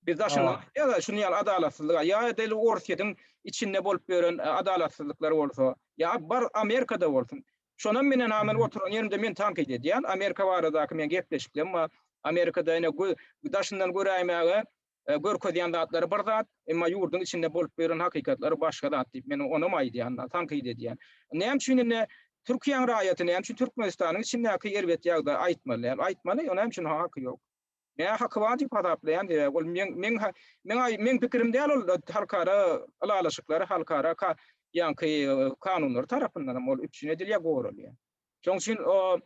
A: Biz daşyndan aýdýas-a şuny ýaly adalatsyzlyga. Ýa edil Orsýetiň içinde bolup ýören adalatsyzlyklar bolsa, ýa bar Amerikada bolsun. Şonam men ene aman oturan ýerimde men tankyt edýän. Amerika baradaky meň gepleşiklerim bar. Amerikada ene daşyndan göräýmäge Görkezýän zatlary bir zat, emma ýurduň içinde bolup ýören hakykatlary başga zat diýip, men onam aýdýan, tankyt edýän. Näme üçin indi Türkiýäň raýaty, näme üçin Türkmenistanyň içindäki erbet ýagdaýy aýtmaly däl? Aýtmaly, näme üçin haky ýok? Mä haky bar diýip hasaplaýan, sebäbi ol meň, meň, meň, meň pikirim däl ol halkara ylalaşyklary, halkara ka, ýaňky kanunlary tarapyndanam ol üpjün edilýär, goralýar. Şoň üçin o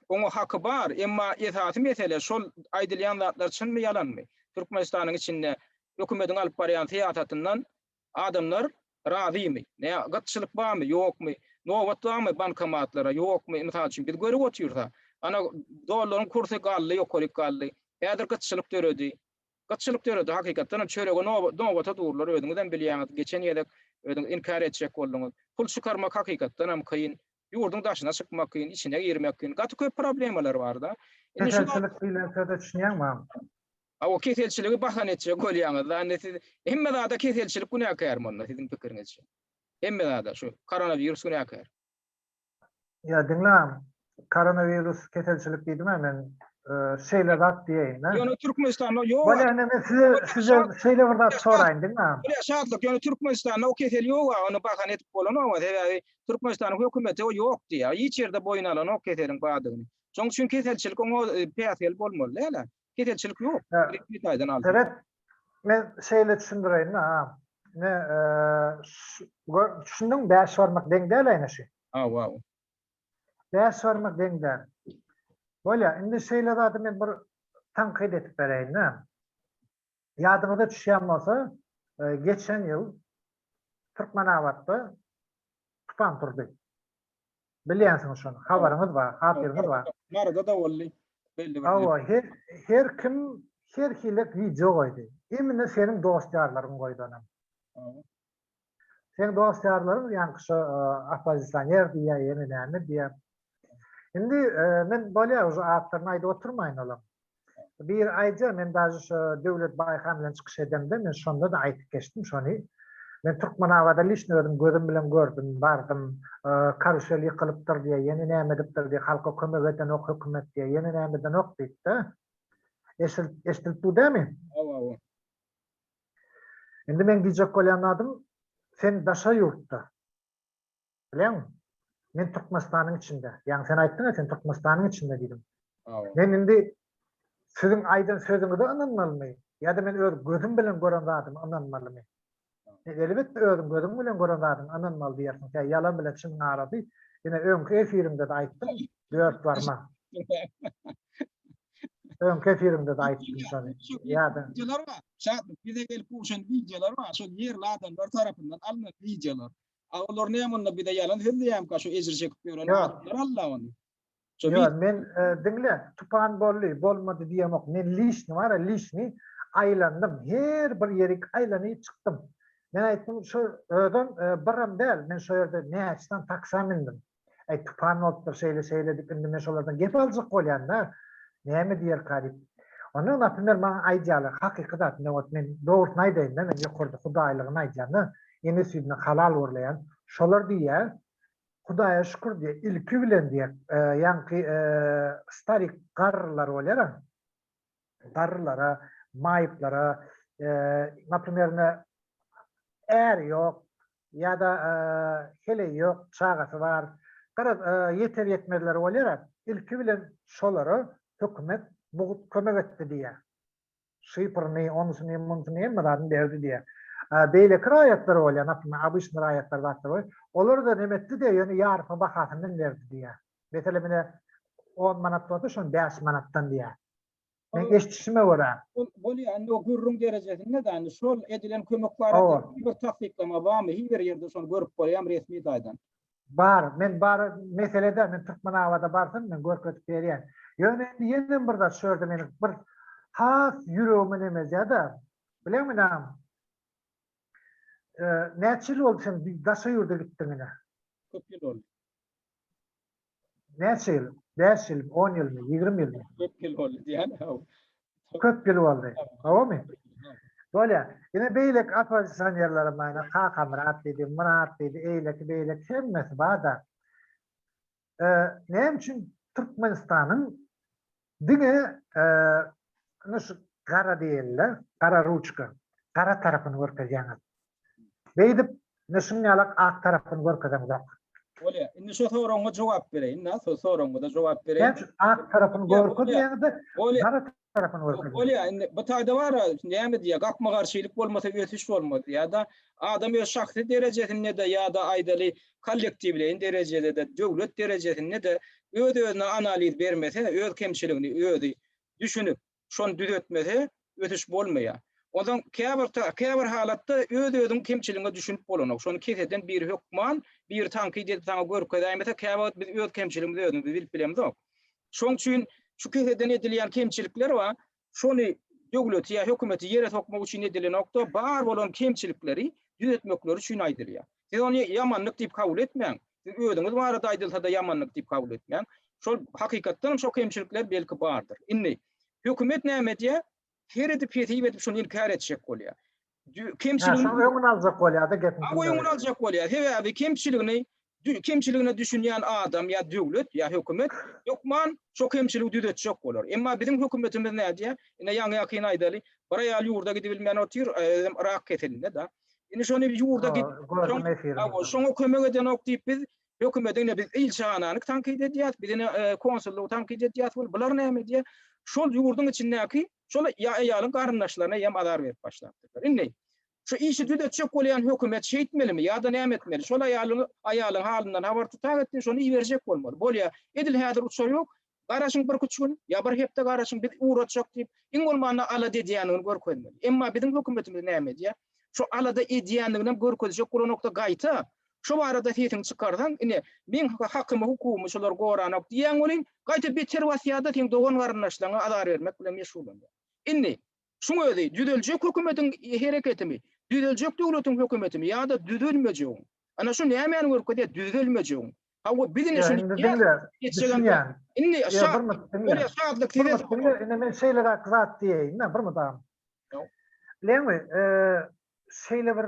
A: Oňa haky bar, emma esasy mesele şol aýdylýan zatlar çynmy ýalanmy? Türkmenistanyň içinde hökümediň alyp barýan syýasatyndan adamlar razymy? Nä gytçylyk barmy, ýokmy? Nobat barmy bankomatlara, ýokmy? Mysal üçin biz görüp otyrys-a, ana dollaryň kursy galdy, ýokaryk galdy. Häzir gytçylyk döredi. Gytçylyk döredi, hakykatdan hem çörege nobata durlar, özüňizem bilýäňiz, geçen gezek özüňiz inkär etjek bolduňyz. Pul çykarmak hakykatdan hem kyn, Ýurduň daşyna çykmak kyn, içine girmek kyn. Gaty köp problemalar bar-da. Indi şu wagt... Keselçilik
B: diýlen söze düşünýäňmi agam? A o
A: keselçiligi bahana etjek bolýaňyz-da. Indi siz hemme zada keselçilik günäkärmi onda siziň pikiriňizçe? Hemme zada şu koronawirus günäkär.
B: Ýa diňle agam, koronawirus keselçilik diýdim-ä men, şeýle zat diýeýin-dä. Ýöne Türkmenistanda
A: ýok. Bolýa indi men size, size
B: şeýle bir zat soraýyn diňle agam. Bolýa Şatlyk, ýöne
A: Türkmenistanda o kesel ýok-a, ony bahana edip bolanok-a, sebäbi Türkmenistanyň hökümeti o ýok diýýär. Hiç ýerde boýun alanok keseliň bardygyny. Şoň üçin keselçilik oňa päsgel bolmaly däl-ä. Keselçilik ýok. Resmi taýdan
B: alsak. Sebäp
A: men
B: şeýle
A: düşündireýin maňa.
B: Ine, gör, düşündiňmi? Bäş barmak deň däl-ä ine şu. Hawa. Bäş barmak deň däl. Bolýar. Indi şeýle zady men bir tankyt edip bereýin-dä. Ýadyňyza düşýän bolsa, geçen ýyl Türkmenabatda tupan turdy. Bilýänsiňiz şony, habaryňyz bar, hatyryňyz bar. Maryda da boldy.
A: Belli bir. Hawa, her, her
B: kim her hili video goýdy. Imine seniň dost-ýarlaryň goýdanam. Seň dost ýarlaryň ýaňky şo oppozisioner diýýä ýene näme diýýä. Indi men bolýa uje atlaryny aýdyp oturmaýyn olaň. Biri aýdýa men daže şo Döwlet Baýhan bilen çykyş edemde men şonda-da aýdyp geçdim şony. Men Türkmenabada lişni özüm gözüm bilen gördüm, bardym. Karusel ýykylypdyr diýýä ýene näme edipdir diýýä halka kömek edenok hökümet diýýä ýene näme edenok diýipdi. Eşidilip dur dämi? Hawa hawa. Indi meň diýjek bolýan zadym, sen daşary ýurtda, bileňmi? Men Türkmenistanyň içinde. Ýaňy sen aýtdyň-a, sen Türkmenistanyň içinde diýdiň. Men indi siziň aýdan sözüňize ynanmalymy ýa-da men öz gözüm bilen gören zadyma ynanmalymy? Elbetde özüň gözüň bilen gören zadyňa ynanmaly diýersiň. Ýalan bilen çynyň arasy. Ine öňki efiriňde-de aýtdyň, Dört barmak. Öňki efirimde de aýtdym şony. Ýa-da Wideolar bar.
A: Şatlyk bize gelip gowşan wideolar bar. Şol ýerli adamlar tarapyndan alnan wideolar. A olar näme onda bize ýalan sözleýärmika şu ejir çekip ýören Ýok. adamlar alla ony. Şo Ýa, wi- men
B: e, diňle, tupan boldy, bolmady diýemok. Men lişni bar, lişni aýlandym. Her bir ýerik aýlanyp çykdym. Men aýtdym, şu özem e, birim däl. Men şo ýerde näçe sany taksa mindim. Äý, tupan bolupdyr, şeýle-şeýle diýip, indi men şolardan gep aljak bolýan-da, näme diýerka diýip. Onda, naprimer, maňa aýdýarlar, hakyky zat, ine, ot, men dogrusyny aýdaýyn-da, men ýokarda hudaýlygyny aýdýan-da, ene süýdünden halal urlaýan. Şolar diýýär, Hudaýa şükür diýýär, ilki bilen diýýär, ýaňky starik garrylar bolýar-a, garrylara, maýyplara, naprimer, ine, äri ýok ýa-da heleý ýok, çagasy bar, garaz, ýeter-ýetmezleri bolýar-a, ilki bilen şolara hökümet mugt kömek etdi diýýär. Şypyryny, onysyny, munysyny hemme zadyny berdi diýýär. Beýleki raýatlar bolýar, naprimer, obyçnyý raýatlar zatlar bolýar, olara-da nem etdi-de, ýöne ýarysyny bahasyndan berdi diýýär. Mesele mine 10 manat bolsa şony 5 manatdan diýýär. Men eşitişime görä. Bolýar, indi o
A: gürrüň derejesinde-de, indi şol edilen kömek barada bir tassyklama barmy? Hiç bir ýerde şony görüp bolýarmy resmi taýdan? Bar, men
B: bar meselede men Türkmenabada barsam men görkezip berýän. Ýöne indi ýene bir zat şu ýerde meniň bir has ýüregime nem edýär-de, bileňmi näm? Näçe ýyl boldy sen daşary ýurda gitdigiňe? Köp ýyl boldy. Näçe ýyl? Bäş ýyl, on ýylmy, ýigrimi ýylmy? Köp ýyl boldy diýýän
A: haw. Köp ýyl
B: boldy. Howamy? Bolýar. Ine beýleki oppozisionerlere maýna Kakamyrat diýdi, Myrat diýdi, eýleki beýleki hemmesi bar-da. Näme üçin Türkmenistanyň Diňe ine şu gara diýenler, gara ruçka, gara tarapyny görkezýäňiz. Beýdip, ine şunuň ýalak ak tarapyny görkezeňzok. Bolýar. Indi
A: şu soragyňa jogap bereýin-de, şu soragyňyza jogap bereýin. Näme üçin ak tarapyny
B: görkezýäňiz-de, gara tarapyny görkeziň. Bolýar, indi bu taýda
A: bar-a, näme diýýär, gapma-garşylyk bolmasa ösüş bolmaz diýýär-de. Adam öz şahsy derejesinde-de ýa-da aýdaly, kollektiwleýin derejede-de, döwlet derejesinde-de öz-özüne analiz bermese, öz kemçiligini özi düşünip, şony düzetmese, ösüş bolmaýar. Onsoň käbir ta, käbir halatda öz-özüň kemçiligiňe düşünip bolanok. Şony keseden biri hökman, biri tankyt edip saňa görkezäýmese, käwagt biz öz kemçiligimizi özümiz bilip bilemzok. Şoň üçin şu keseden edilýän kemçilikler bar, şony döwleti ýa hökümeti ýere sokmak üçin edilenokda, bar bolan kemçilikleri düzetmekleri üçin aýdylýar. Siz ony ýamanlyk diýip kabul etmäň. Siz özüňiz barada aýdylsa-da ýamanlyk diýip kabul etmäň. Şol hakykatdan hem şo kemçilikler belki bardyr. Indi hökümet näme edýär? Heridi-pesip edip şony inkär etjek bolýar. kemçiligini şoň öňüni aljak
B: bolýar-da gepiň. Aw öňüni aljak bolýar.
A: Sebäbi kemçiligini kemçiligine düşünýän adam ýa döwlet ýa hökümet hökman şo kemçiligi düzetjek bolar. Emma biziň hökümetimiz nädýär? Ine ýaňy-ýakyn aýdaly, bir aýal ýurda gidibilmän otyr, özem rak keselinde-de. Indi şony ýurda gidip, şoňa kömek edenok diýip biz hökümete ine biz ilçihanany tankyt edýäris, biz ine konsullygy tankyt edýäris, bular näme diýýär? Şol ýurduň içindäki Şol aýalyň garyndaşlaryna ýem azar berip başlapdyrlar. Indi, şu işi düzetjek bolýan hökümet şeýtmelimi ýa-da näme etmeli? Şol aýalyň aýalyň halyndan habar tutak etsin, şony iberjek bolmaly. Bolýa, edil häzir uçar ýok, garaşyň birküç gün, ýa bir hepde garaşyň, biz ugratjak diýip, iň bolmanda alada edýändigini görkezmeli. Emma biziň hökümetimiz näme edýär? Şu alada edýändiginem görkezjek bolanok-da, gaýta, Şu barada sesiňi çykarsaň, ine, meň hakymy, hukugymy şular goranok diýýän welin, gaýta beter basýar-da, seň dogan-garyndaşlaryňa azar bermek bilen meşgullanýar. Indi, şuň özi, düzeljek hökümetiň hereketimi, düzeljek döwletiň hökümetimi ýa-da düzelmejegiň? Ana, şu nämäni görkezýär, düzelmejegiň? Hawa, biz indi şuny diýýäs.
B: Indi, şa,
A: bolýa,
B: şatlyk size! Durmuş,
A: diňle, indi men şeýleräk
B: zat diýeýin-de, Durmuş aga. Bileňmi, şeýle bir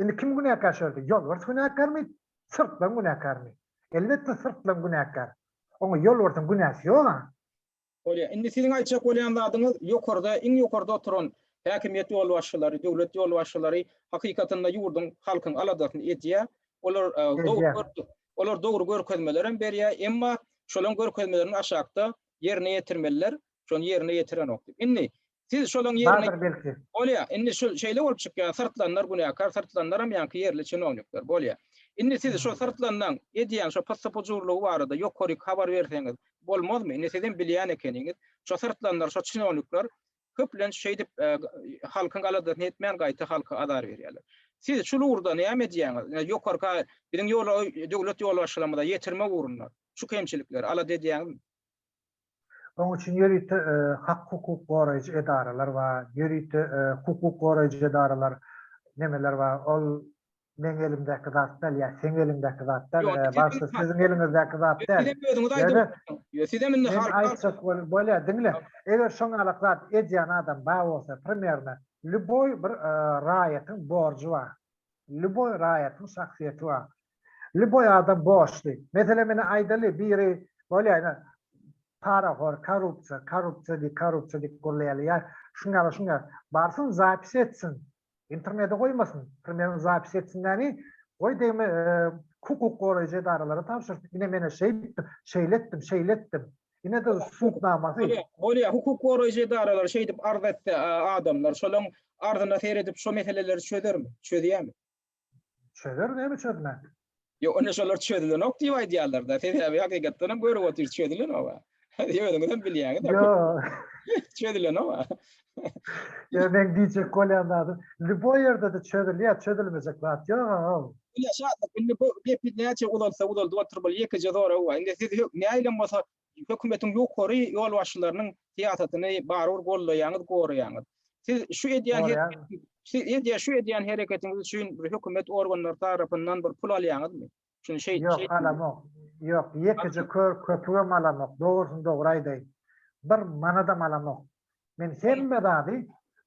B: Indi kim günäkär şu ýerde? Ýolbars günäkärmi? Syrtlan günäkärmi? Elbetde Syrtlan günäkär. Oňa Ýolbarsyň günäsi ýog-a. Bolýar. Indi
A: siziň aýtjak bolýan zadyňyz ýokarda, iň ýokarda oturan häkimiýet ýolbaşçylary, döwlet ýolbaşçylary hakykatynda ýurduň, halkyň aladasyny edýär. Olar dogry görk, olar dogry görkezmeler hem berýär, emma şolaň görkezmelerini aşakda ýerine ýetirmeliler. Şony ýerine ýetirenok diýip. Indi Siz şolaň ýerine Bardyr belki. Bolýa. Indi şu şeýle bolup çykýa, syrtlanlar günäkär, syrtlanlaram ýaňky ýerli çinownikler. Bolýa. Indi siz şo syrtlanlaň edýän şo pyssy-pujurlygy barada ýokaryk habar berseňiz bolmazmy? Indi sizem bilýän ekeniňiz. Şo syrtlanlar, şo çinownikler köplenç şeýdip halkyň aladasyny etmän gaýta halka azar berýärler. Siz şul ugurda näme edýäňiz? Ýokarka biziň ýola döwlet ýolbaşçylarymyza ýetirmek ugrunda şu kemçilikleri alada edýäňizmi?
B: Oň üçin ýörite hak-hukuk goraýjy edaralar bar, ýörite hukuk goraýjy edaralar, nemeler bar, ol meň elimdäki zat däl ýa seň eliňdäki zat däl, bagşy siziň eliňizdäki zat däl.
A: Men aýtjak bolup
B: bolýar, diňle, eger şoňalak zat edýän adam bar bolsa, primerno, lýuboý bir raýatyň borjy bar, lýuboý raýatyň şahsyýeti bar, Lýuboý adam borçly. Meselem ine aýdaly biri bolýar ine parahor, korrupsiýa, korrupsiýa diýip, korrupsiýa diýip gürleýärler. Ýa şuň ýaly, şuň ýaly. Barsyn zapis etsin. Internete goýmasyn. Primerini zapis etsin näni? Goý degme hukuk goraýjy edaralara tabşyrsyn. Ine men şeý etdim, şeýle etdim, şeýle etdim. Ine de sud namasy. Bolýar. Hukuk
A: goraýjy edaralar şeý diýip arz etse adamlar şolaň arzyna seredip şo meseleleri çözermi? Çözýärmi? Çözer
B: näme çözmek? Ýok, indi şolar
A: çözülenok diýip aýdýarlar-da. Sebäbi hakykatdan hem görüp otyrys çözülenok. Özüňiz hem bilýäňiz. Ýok. Çözülenok. Ýa
B: men diýjek bolýan zadym, lýuboý ýerde-de çözülýär, çözülmejek zat ýog-a. Ýa Şatlyk, indi
A: bu gepi näçe uzalsa uzaldyp otur bol, ýekeje sorag bar. Indi siz nähilem bolsa Hökümetiň ýokary ýolbaşçylarynyň syýasatyny barybir goldaýaňyz, goraýaňyz. Siz şu edýän hereketiňiz, siz edýän şu edýän hereketiňiz üçin bir hökümet organlary tarapyndan bir pul alýaňyzmy? Şuny şeý, şeý. Ýok, alamok.
B: Ýok, ýekeje kör köpügem alamok. Dogrusyny dogry aýdaýyn. Bir manadam alamok. Men hemme zady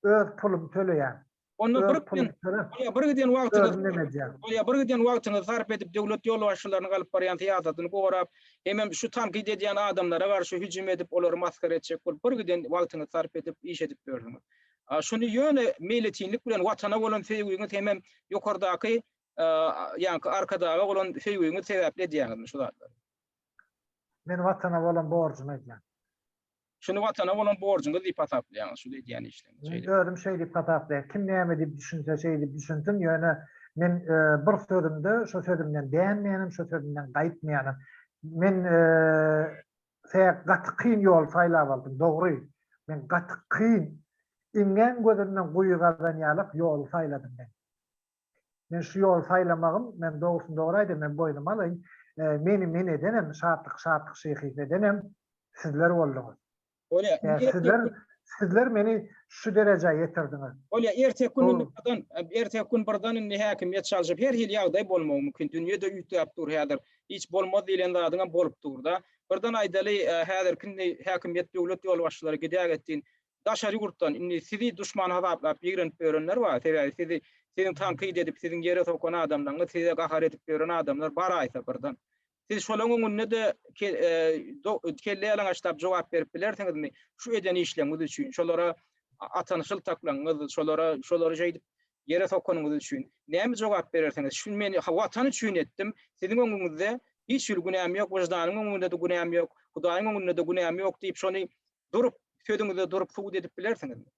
B: öz pulumy töleýän. Onda bir giden,
A: onda bir giden wagtyňyzy, onda bir giden wagtyňyzy sarp edip döwlet ýolbaşçylarynyň alyp barýan syýasatyny gorap, hemem şu tankyt edýän adamlara garşy hüjüm edip, olary masgara etjek bolup bir giden wagtyňyzy sarp edip iş edip ýörsüňiz. Şuny ýöne meýletinlik bilen watana bolan söýgiňiz hemem ýokardaky ýaňky arkadaga bolan söýgiňiz sebäpli edýäňizmi şu zatlary? Men
B: watana bolan borjumy edýän. Şuny
A: Watana bolan borjuňyz diýip hasaplaýaňyz, şul edýän işleriňiz. Men özüm şeý diýip hasaplaýan.
B: Kim näme diýip düşünse şeý diýip düşünsin, ýöne men bir sözümde şo sözümden dänmeýänim, şo sözümden gaýtmaýanym. Men se gaty kyn ýol saýlap aldym, dogry. Men gaty kyn, iňňän gözünden guýy gazanýarlyk ýoly saýladym men. Men şu ýoly saýlamagym, men dogrusyny dogry aýdaýyn, men boýnuma alaýyn, meni men edenem, şatlyk şatlyk şyhy edenem sizler bolduňyz.
A: Sizler,
B: sizler meni şu derejä ýetirdiňiz. Bolýar, erteki gün
A: indi birden, erteki gün birden indi häkimiýet çalşyp, her hili ýagdaý bolmagy mümkin. Dünýe-de üýtgäp dur häzir. Hiç bolmaz diýlen zadyň hem bolup dur-da. Birden aýdaly, häzirki indi häkimiýet, döwlet ýolbaşçylary gidäýgetdiýin, daşary ýurtdan indi sizi duşman hasaplap ýigrenip ýörenler bar, sebäbi sizi siziň tankyt edip siziň ýere sokan adamlaryňyz size gahar edip ýören adamlar bar aýsa birden. Siz şolaň öňünde-de kelle ýalaňaçlap jogap berip bilersiňizmi şu eden işleňiz üçin, şolara atan şyltaklaňyz, şolara şolary şeýdip ýere sokanyňyz üçin näme jogap berersiňiz, şuny men watan üçin etdim, siziň öňüňizde hiç hili günäm ýok, wyždanyň öňünde-de günäm ýok, Hudaýyň öňünde-de günäm ýok diýip şony durup, sözüňizde durup subut edip bilersiňizmi?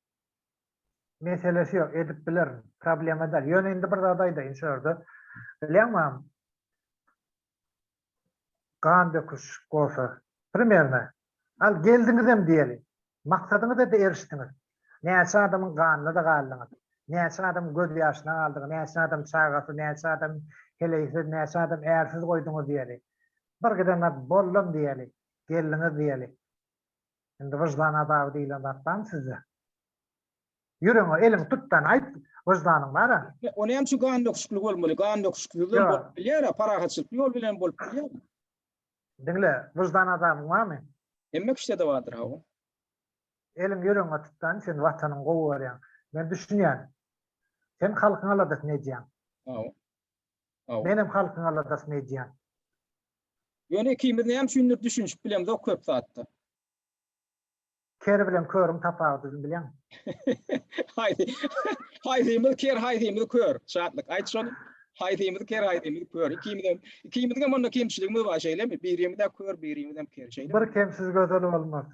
B: Meselesi ýok, edip bilerin. Problema däl. Ýöne indi bir zat aýdaýyn şu ýerde. Bilýäňmäm? Gan döküş bolsa, primerna, al geldiňizem diýeli. Maksadyňyza-da erişdiňiz. Näçe adamyň ganyna-da galdyňyz. Näçe adam göz ýaşyna galdyňyz, näçe adam çagasy, näçe adam heleýsiz, näçe adam ärsiz goýduňyz diýeli. Bir giden zat, boldum diýeli, geldiňiz diýeli. Indi wyždan azaby diýilen zat barmy sizde? Ýüregiňe eliňi tutdan aýt, wyždanyň bar-a? Ol hem şu gan
A: döküşikli bolmaly. Gan döküşiksiz hem bolup bilýär-ä, parahatçylykly ýol bilen hem bolup bilýär. Diňle,
B: wyždan azabyň barmy? Hemme kişide-de
A: bardyr, hawa. Eliňi
B: ýüregiňe tutdan, sen Watanyňy gowy görýäň. Men düşünýän. Sen halkyň aladasyny edýäň. Hawa. Menem halkyň aladasyny edýän.
A: Ýöne ikimiz näme üçindir düşünişip bilemzok köp zatda.
B: Ker bilen körüň tapawudyny bileň. Haýsy
A: haýsymyz ker haýsymyz kör Şatlyk aýt şony haýsymyz ker haýsymyz kör ikimizem ikimizgem onda kemçiligimiz bar şeýlemi birimizä kör birimizem ker şeýlemi. Bir kemsiz gözel
B: bolmaz.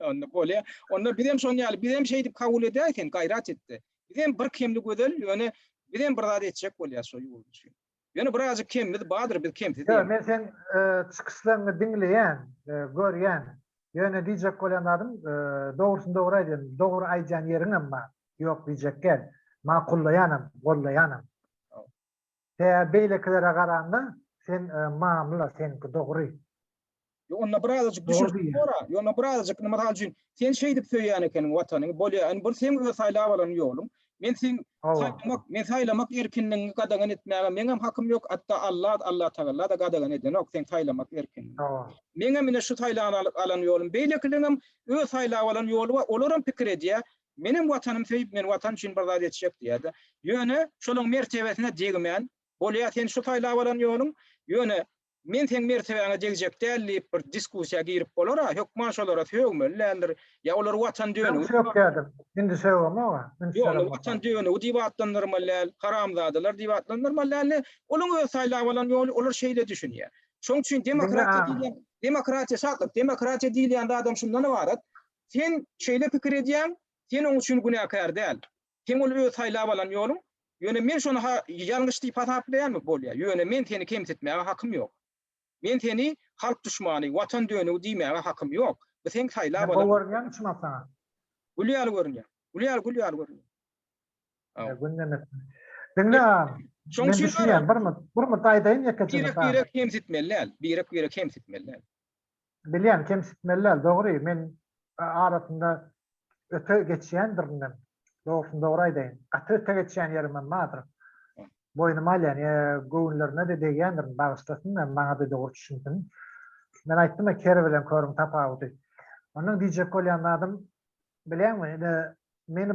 B: Onda bolýa
A: onda bizem şony ýaly bizem şeýdip kabul edäý sen gaýrat etde Biz hem bir kemli gözel, ýöne biz hem bir zat etjek bolýas şo ýurt üçin. Ýöne birazjyk kemimiz badyr, biz kemsiz diýemok. Ýok, men seň
B: çykyşlaryňy diňleýän, görýän. Ýöne diýjek bolýan zadym, dogrusyny dogry aýdýan, dogry aýdýan ýeriňem bar. Ýok diýjek däl. Makullaýanam, gollaýanam. Tä beýlekilere garanda sen mamla seňki dogry. Ýok onda
A: bir azajyk düşünişip gora. Ýok onda bir azajyk indi mysal üçin sen şeýdip söýýän ekeniň watanyňy bolýar indi bir seň öz saýlap alan ýoluň. Men seň saýlamak men saýlamak erkinligiňi gadagan etmäge meňem hakym ýok hatda Alla Allatagallada gadagan edenok seň saýlamak erkinligiňi. Meňem ine şu saýlap alan ýolum beýlekileriňem öz saýlap alan ýoly bar olaram pikir edýär Menem Watanym söýüp men Watan üçin bir zat etjek diýýärdi. Ýöne şolaň mertebesine degmän, bolýa sen şu saýlap alan ýoluň, ýöne men seň mertebäňe degjek däl diýip bir diskussiýa girip bolara, hökman şolara sögmeli däldir, ýa olar Watan dönügi diýip atlandyrmaly. Öňki sökýärdik,
B: indi sögemok-a. Ýok, indi Watan
A: dönügi diýip atlandyrmaly däl, haramzadalar diýip atlandyrmaly däl, indi olaň öz saýlap alan ýoly, olar şeýle düşünýär. Şoň üçin demokratiýa diýilýän, demokratiýa, şatlyk, demokratiýa diýilýän zadam şundan ybarat, Sen şeýle pikir edýäň, sen oň üçin günäkär däl. Seň ol öz saýlap alan ýoluň. Ýöne men şony ha ýalňyş diýip hasaplaýanmy? Bolýar. Ýöne men seni kemsitmäge hakym ýok. Men seni halk duşmany, watan dönügi diýmäge hakym ýok. Bu seň saýlap alan. Men gowy görünýärmi çynap
B: saňa? Gül ýaly
A: görünýär. Gül ýaly, gül ýaly görünýär. Haw. Gündemesin.
B: Diňle agam. Şoň üçin
A: düşünýän. Bir murt,
B: bir murt aýdaýyn ýekeje. Birek-birek kemsitmeli
A: däl. Birek-birek kemsitmeli däl. Bilýän,
B: kemsitmeli däl, dogry, men arasynda öte geçýändirinem, dogrusyny dogry aýdaýyn, gaty öte geçýän ýerimem bardyr. Boýnuma alýan ýa göwünlerine-de degýändirin, bagyşlasyn hem maňa-da dogry düşünsin. Men aýtdym-a, ker bilen körüň tapawudy. Ondan diýjek bolýan zadym, bilýäňmi, ine, meni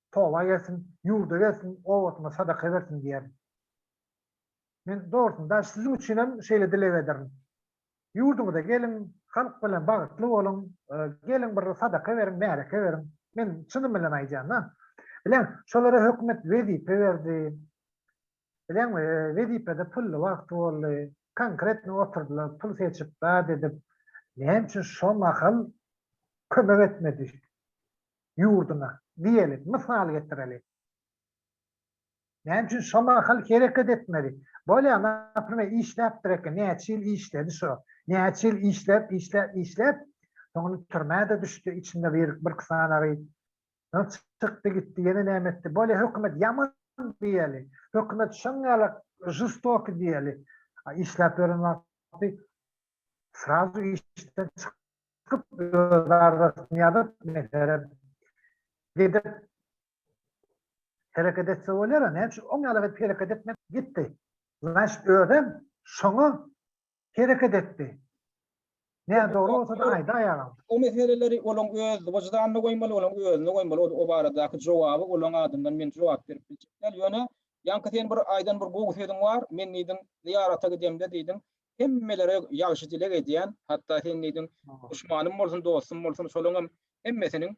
B: toba gelsin, ýurda gelsin, obasyna sadaka bersin diýerin. Men dogrusyn daş siziň üçin hem şeýle dileg ederin. Ýurduňyza geliň, halk bilen bagytly boluň, geliň bir sadaka beriň, märeke beriň. Men çynym bilen aýdýan-da. Bileň, şolara hökümet wezipe berdi. Bileňmi, wezipede pully wagty boldy. Konkretno oturdylar, pul seçip, zat edip. Näme üçin şo mahal kömek etmedi? ýurduna, diýeli, mysal getireli. Näme üçin şo mahal hereket etmedi? Bolýa, naprimer, işläpdir eken, näçe ýyl işledi şo. Näçe ýyl işläp, işläp, işläp, soňra türmä-de düşdi, içinde bir, birki sanagy. Soň çykdy gitdi, ýene näme etdi? Bolýa, hökümet ýaman diýeli, hökümet şoňňalak žestoky diýeli. A işläp ýören wagty Srazu işden çykyp, öz arzasyny ýazyp, meselem, gidip hereket etse bolýar-a, näme üçin oň ýaly edip hereket etmedi, gitdi. Znaçt, özem şoňa hereket etdi. Nädogry bolsa-da aýdy aýaga. O meseleleri
A: olaň öz wyždanyna goýmaly, olaň özüne goýmaly. O, o baradaky jogaby olaň adyndan men jogap berip biljek däl. Ýöne, ýaňky sen bir aýdan bir gowy sözüň bar, men diýdiň, zyýarata gidemde diýdiň, hemmelere ýagşy dileg edýän, hatda sen diýdiň, duşmanym bolsun, dostum bolsun, şolaryň hem hemmesiniň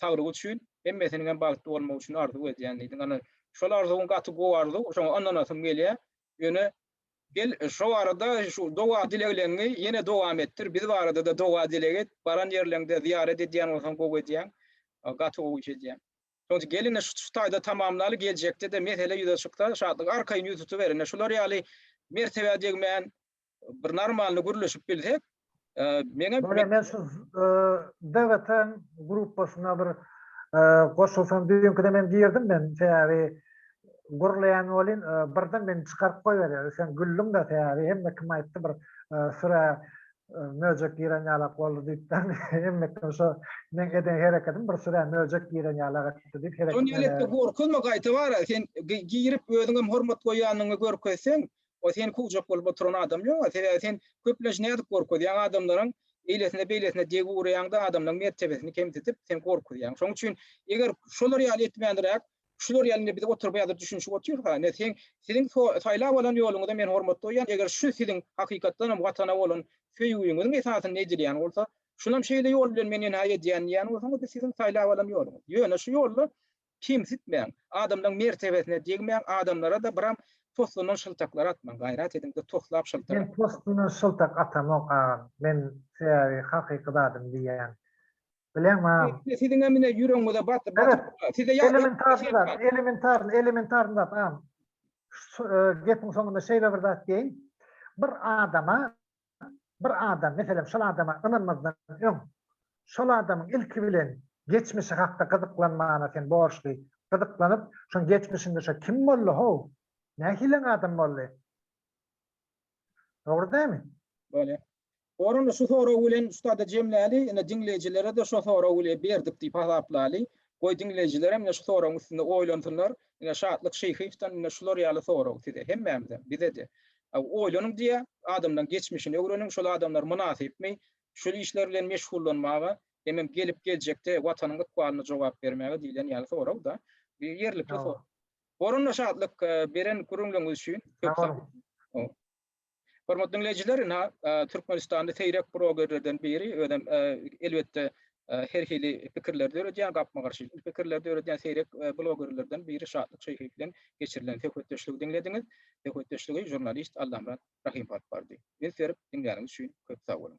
A: saglygy üçin, hemmesiniň hem bagtly bolmagy üçin arzuw edýän diýdiň. Ana, şol arzuwyň gaty gowy arzuw, şoňa ynanasym gelýär. Ýöne gel, şo arada şu doga-dilegleriňi ýene dowam etdir, biz barada-da doga-dileg et, baran ýerleriňde zyýarat edýän bolsaň gowy edýäň, gaty gowy iş edýäň. Soň gelin-de şu taýda tamamlaly geljekde-de mesele ýüze çyksa Şatlyk arkaýyn ýüz tutuber ine şular ýaly mertebä degmän bir normalny gürleşip bilsek meňem Bolýa men şu
B: DGT-iň gruppasyna bir goşulsam düýnkide men girdim men sebäbi gürleýän welin birden meni çykaryp goýberýärler sen güldüň-de sebäbi hemme kim aýtdy bir süre Möjek giren ýalak boldy diýipden hemmekden şo meň eden hereketim bir sürä möjek giren ýalak etdi diýip hereket. Doniýal etde gorkuzma
A: gaýta bara sen girip özüňem hormat goýýanyňy görkezseň o seni kowjak bolup oturan adam ýoga sebäbi sen köplenç nädip gorkuzýaň adamlaryň eýlesine beýlesine degi urýaňda adamlaryň mertebesini kemsidip sen gorkuzýaň şoň üçin eger şolar ýaly etmändiräk Şular ýaly indi biz oturyp häzir düşünişip otyrys-a, indi seň, siziň saýlap alan ýoluňyza men hormat goýýan, eger şu siziň hakykatdan hem Watana bolan söýgüňiziň esasynda edilýän bolsa, şunam şeýle ýol bilen men enha edýän diýýän bolsaňyz, bu siziň saýlap alan ýoluňyz. Ýöne şu ýolda kemsitmäň, adamlaryň mertebesine degmäň, adamlara-da biram postundan şyltaklar atmaň, gaýrat ediň-de toslap şyltak atmaň. Men postundan şyltak
B: atamok agam, men sebäbi hakyky zadymy diýýän. Bileň mam. Ine siziňem ine ýüregiňize
A: batyp batyp Evet. dur. Size ýa- Elementarny zat, elementarny,
B: elementarny zat am. Şu e, gepiň soňunda şeýle bir zat diýeýin. Bir adama bir adam meselem şol adama ynanmazdan öň şol adamyň ilki bilen geçmişi hakda gyzyklanmana sen borçly. Gyzyklanyp, şoň geçmişinde şo kim boldy how? Nähili adam boldy? Dogry dälmi? Bolýar.
A: Orany şu sorag bilen şuda-da jemläli, ine, diňleýjilere-de şo sorag bile berdik diýip hasaplaly. Goý, diňleýjilerem ine şu soragyň üstünde oýlansynlar. Ine, Şatlyk Şyhyýewden ine şular ýaly sorag size, hemmämize, bize-de. Oýlanyň diýýär, adamlaryň geçmişini öwreniň, şol adamlar mynasypmy şul işler bilen meşgullanmaga, hemem gelip geljekde Watanyň ykbalyna jogap bermäge diýlen ýaly sorag-da. Ýerlikli sorag. Oranda Şatlyk, beren gürrüňleriňiz üçin köp sag boluň. Hormatly diňleýjiler, ina, Türkmenistanda seýrek brogerlerden biri, özem, elbetde, her hili pikirleri döredýän, gapma-garşy pikirleri döredýän seýrek blogerlerden biri Şatlyk Şeýhek bilen geçirilen söhbetdeşligi diňlediňiz. Söhbetdeşligi žurnalist Allamyrat Rahym alyp bardy. Üns berip diňläniňiz üçin köp sag boluň!